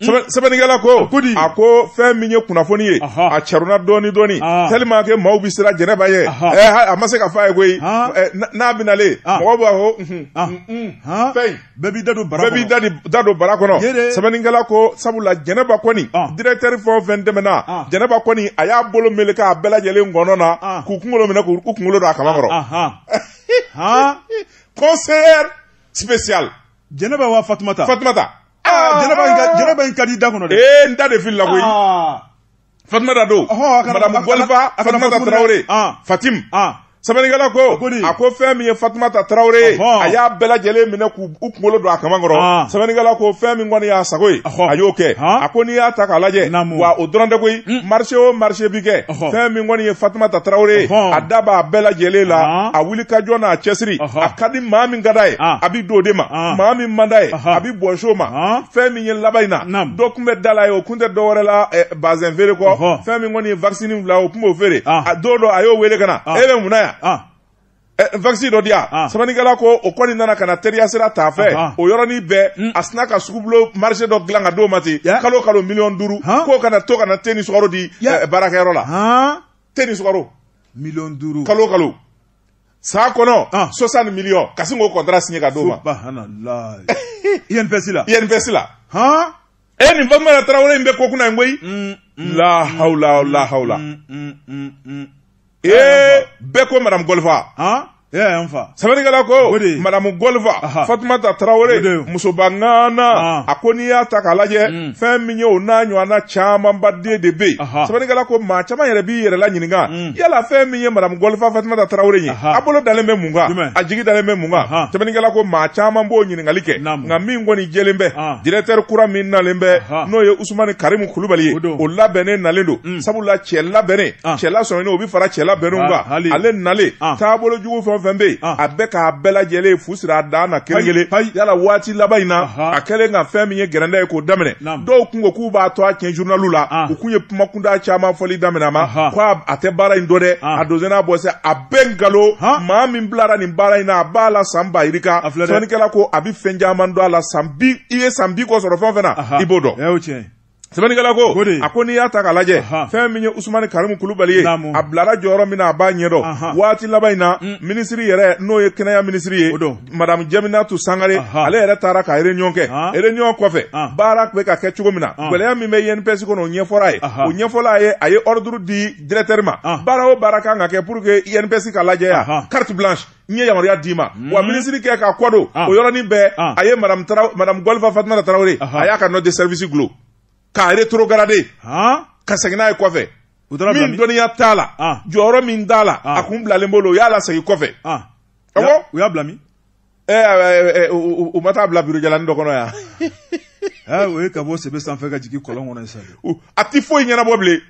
sɛbɛnnikɛla ko a ko fɛn min ye kunnafoni ye a cɛruna dɔɔni dɔɔni tellement que maaw bɛ siran jɛnɛba ye a ma se ka fɔ a ye koyi n'a bɛnalen mɔgɔw b'a fɔ fɛn bɛɛ b'i da don bara bɛɛ b'i da don bara kɔnɔ sɛbɛnnikɛla ko sabula jɛnɛba kɔni diretɛri fɛn o fɛn tɛmɛna jɛnɛba kɔni a y'a bolo meleke a bɛɛ lajɛlen ngɔnɔ na k'u kunkolo minɛ k'u kunkolo don a kaman kɔrɔ conseillère spéciale jɛnɛba wa fatumata fatumata ah, jɛnɛba in ka di da kɔnɔ dɛ ee n da de filila koyi ah. fatumata don madamu gɔlifa fatumata tarawele ah. fatim sɛbɛnnikɛla ko a ko fɛn min ye fatumata tarawele ye a y'a bɛɛ lajɛlen minɛ k'u kunkolo don a kaman kɔrɔ ah. sɛbɛnnikɛla ko fɛn min kɔni y'a sago ye a y'o kɛ a ko n'i y'a ta k'a lajɛ wa o dɔrɔn tɛ koyi marché o marché bi kɛ fɛn min kɔni ye fatumata tarawele ye a da b'a bɛɛ lajɛlen la a wuli ka jɔ n'a cɛsiri a ka di maa min ka d'a ye a bɛ d'o de ma maa min man d'a ye a bɛ bɔs'o ma fɛn min ye laban in na dɔ tun bɛ da la yen o kun tɛ dɔwɛrɛ la bazɛn feere kɔ fɛn min kɔni ye wakisi bila o tun b'o feere a don dɔ a y'o wele ka na e bɛ mun na yan wakisi dɔ di yan ah. sɛbɛnnikɛla ko o kɔni nana ka na teriya sira t'a fɛ ah, ah. o yɔrɔnin bɛɛ mm. a sina ka sugubulo marché dɔ dilan ka d'o ma ten kalo kalo miliyɔn duuru k'o ka na to ka na te ni sukaro di eh, baarakɛyɔrɔ la te ni sukaro miliyɔn duuru kalo kalo san kɔnɔ soixante miliyɔn ka sin k'o kɔntara siɲɛ ka d'o ma INPS la INPS la e nin fatumata tarawele in bɛ ko kunna in koyi mm, mm, la mm, hawla la hawla ee bɛɛ ko madame golfa sɛbɛnnikɛla ko madamu golfa fatumata tarawele musoba ŋana a ko n'i y'a ta k'a lajɛ fɛn min ye o n'a ɲɔgɔnna camanba den de bɛ yen sɛbɛnnikɛla ko maa caman yɛrɛ b'i yɛrɛ la ɲininka yala fɛn min ye madamu gɔlifa fatumata tarawele ye a bolo dalen bɛ mun kan a jigi dalen bɛ mun kan sɛbɛnnikɛla ko maa caman b'o ɲininkali kɛ nka min kɔni jɛlen bɛ directeur kura min nalen bɛ n'o ye usumani karimu kulubali ye o labɛnnen nalen don mm. sabula cɛ labɛnnen cɛ lasɔminen o bɛ fara cɛ labɛnnenw kan ale nalen taabolo jugu fɛn fɛn bɛ yen a bɛ k'a bɛɛ lajɛlen fu siri a dan na kelen kelen yala waati laban in na a kɛlen ka fɛn min ye gɛrɛndɛ ye k'o daminɛ dɔw kun ko k'u b'a tɔgɔ tiɲɛ journaliw la u kun ye kumakunda caman fɔli daminɛ a ma Aha. ko a- a tɛ baara in dɔn dɛ Ah. a donsen n'a bɔsen a bɛɛ nkalon Han. maa min bilara nin baara in na a b'a la san ba yirika A filɛ dɛ. sɛbɛnnikɛla ko a bɛ fɛn caman dɔn a la san bi i ye san bi kɔ sɔrɔ fɛn o fɛn na Aha. i b'o dɔn Ɛ, o tiɲɛ sɛbɛnnikɛla ko O de ye. a ko n'i y'a ta k'a lajɛ Aha. fɛn min ye usumani karimu kulubali ye Naamu. a bilara jɔyɔrɔ min na a b'a ɲɛdɔn Aha. waati laban in na minisiri yɛrɛ n'o ye kɛnɛya minisiri ye O don. madamu jɛminatu sangare ale yɛrɛ taara ka réunion kɛ réunion kɔfɛ baara tun bɛ ka kɛ cogo min na gɛlɛya min bɛ INPS kɔnɔ o ɲɛfɔra a ye o ɲɛfɔla a ye a ye ordre di directeur ma baara o baara kan ka kɛ pour que INPS ka lajɛya carte blanche n ye yamaruya d'i ma wa minisiri kɛ k'a kɔ don o yɔrɔnin bɛɛ a ye madamu madamu gɔlifa fatumata tarawele a y'a ka note de service gulon k'a rétrogradé ka segin n'a ye kɔfɛ min dɔnniya t'a la jɔyɔrɔ min t'a la a kun bilalen b'o la o y'a lasegin kɔfɛ Awɔ. U y'a bila min? Ɛ eh, ɛ eh, ɛ eh, u u ma taa bila bureau jalanin dɔ kɔnɔ yan. Aa o ye ka bɔ sebe sanfɛ ka jigin kɔlɔn kɔnɔ sisan. A tɛ foyi ɲɛnabɔ bilen.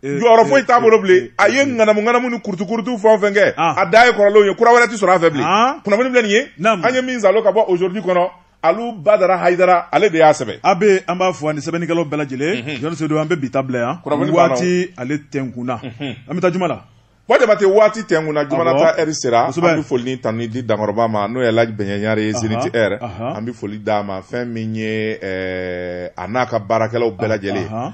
jɔyɔrɔ foyi t'a bolo bilen a ye ŋanamu ŋanamu ni kurutukurutu fɛn o fɛn kɛ ah. a da ye kɔrɔlenw ye kura wɛrɛ tɛ sɔrɔ a fɛ bilen ah. kunnafoni filɛ nin ye an ye min zalo ka bɔ aujourd'hui kɔnɔ alu badara hayidara ale de y'a sɛbɛn a bɛ an b'a fo ani sɛbɛnnikɛlaw bɛɛ lajɛlen mhm. jɔn sedu an bɛ bi ta bila yan waati ale tɛnkunna mhm. an bɛ taa juma la Ko jabate waati tɛnkunna juma ta heure sera an bɛ foli ni tanuni di dankɔrɔba ma n'o ye laji bɛɲɛ ɲare ye zenith air an bɛ foli d'a ma fɛn min ye a n'a ka baarakɛlaw bɛɛ lajɛlen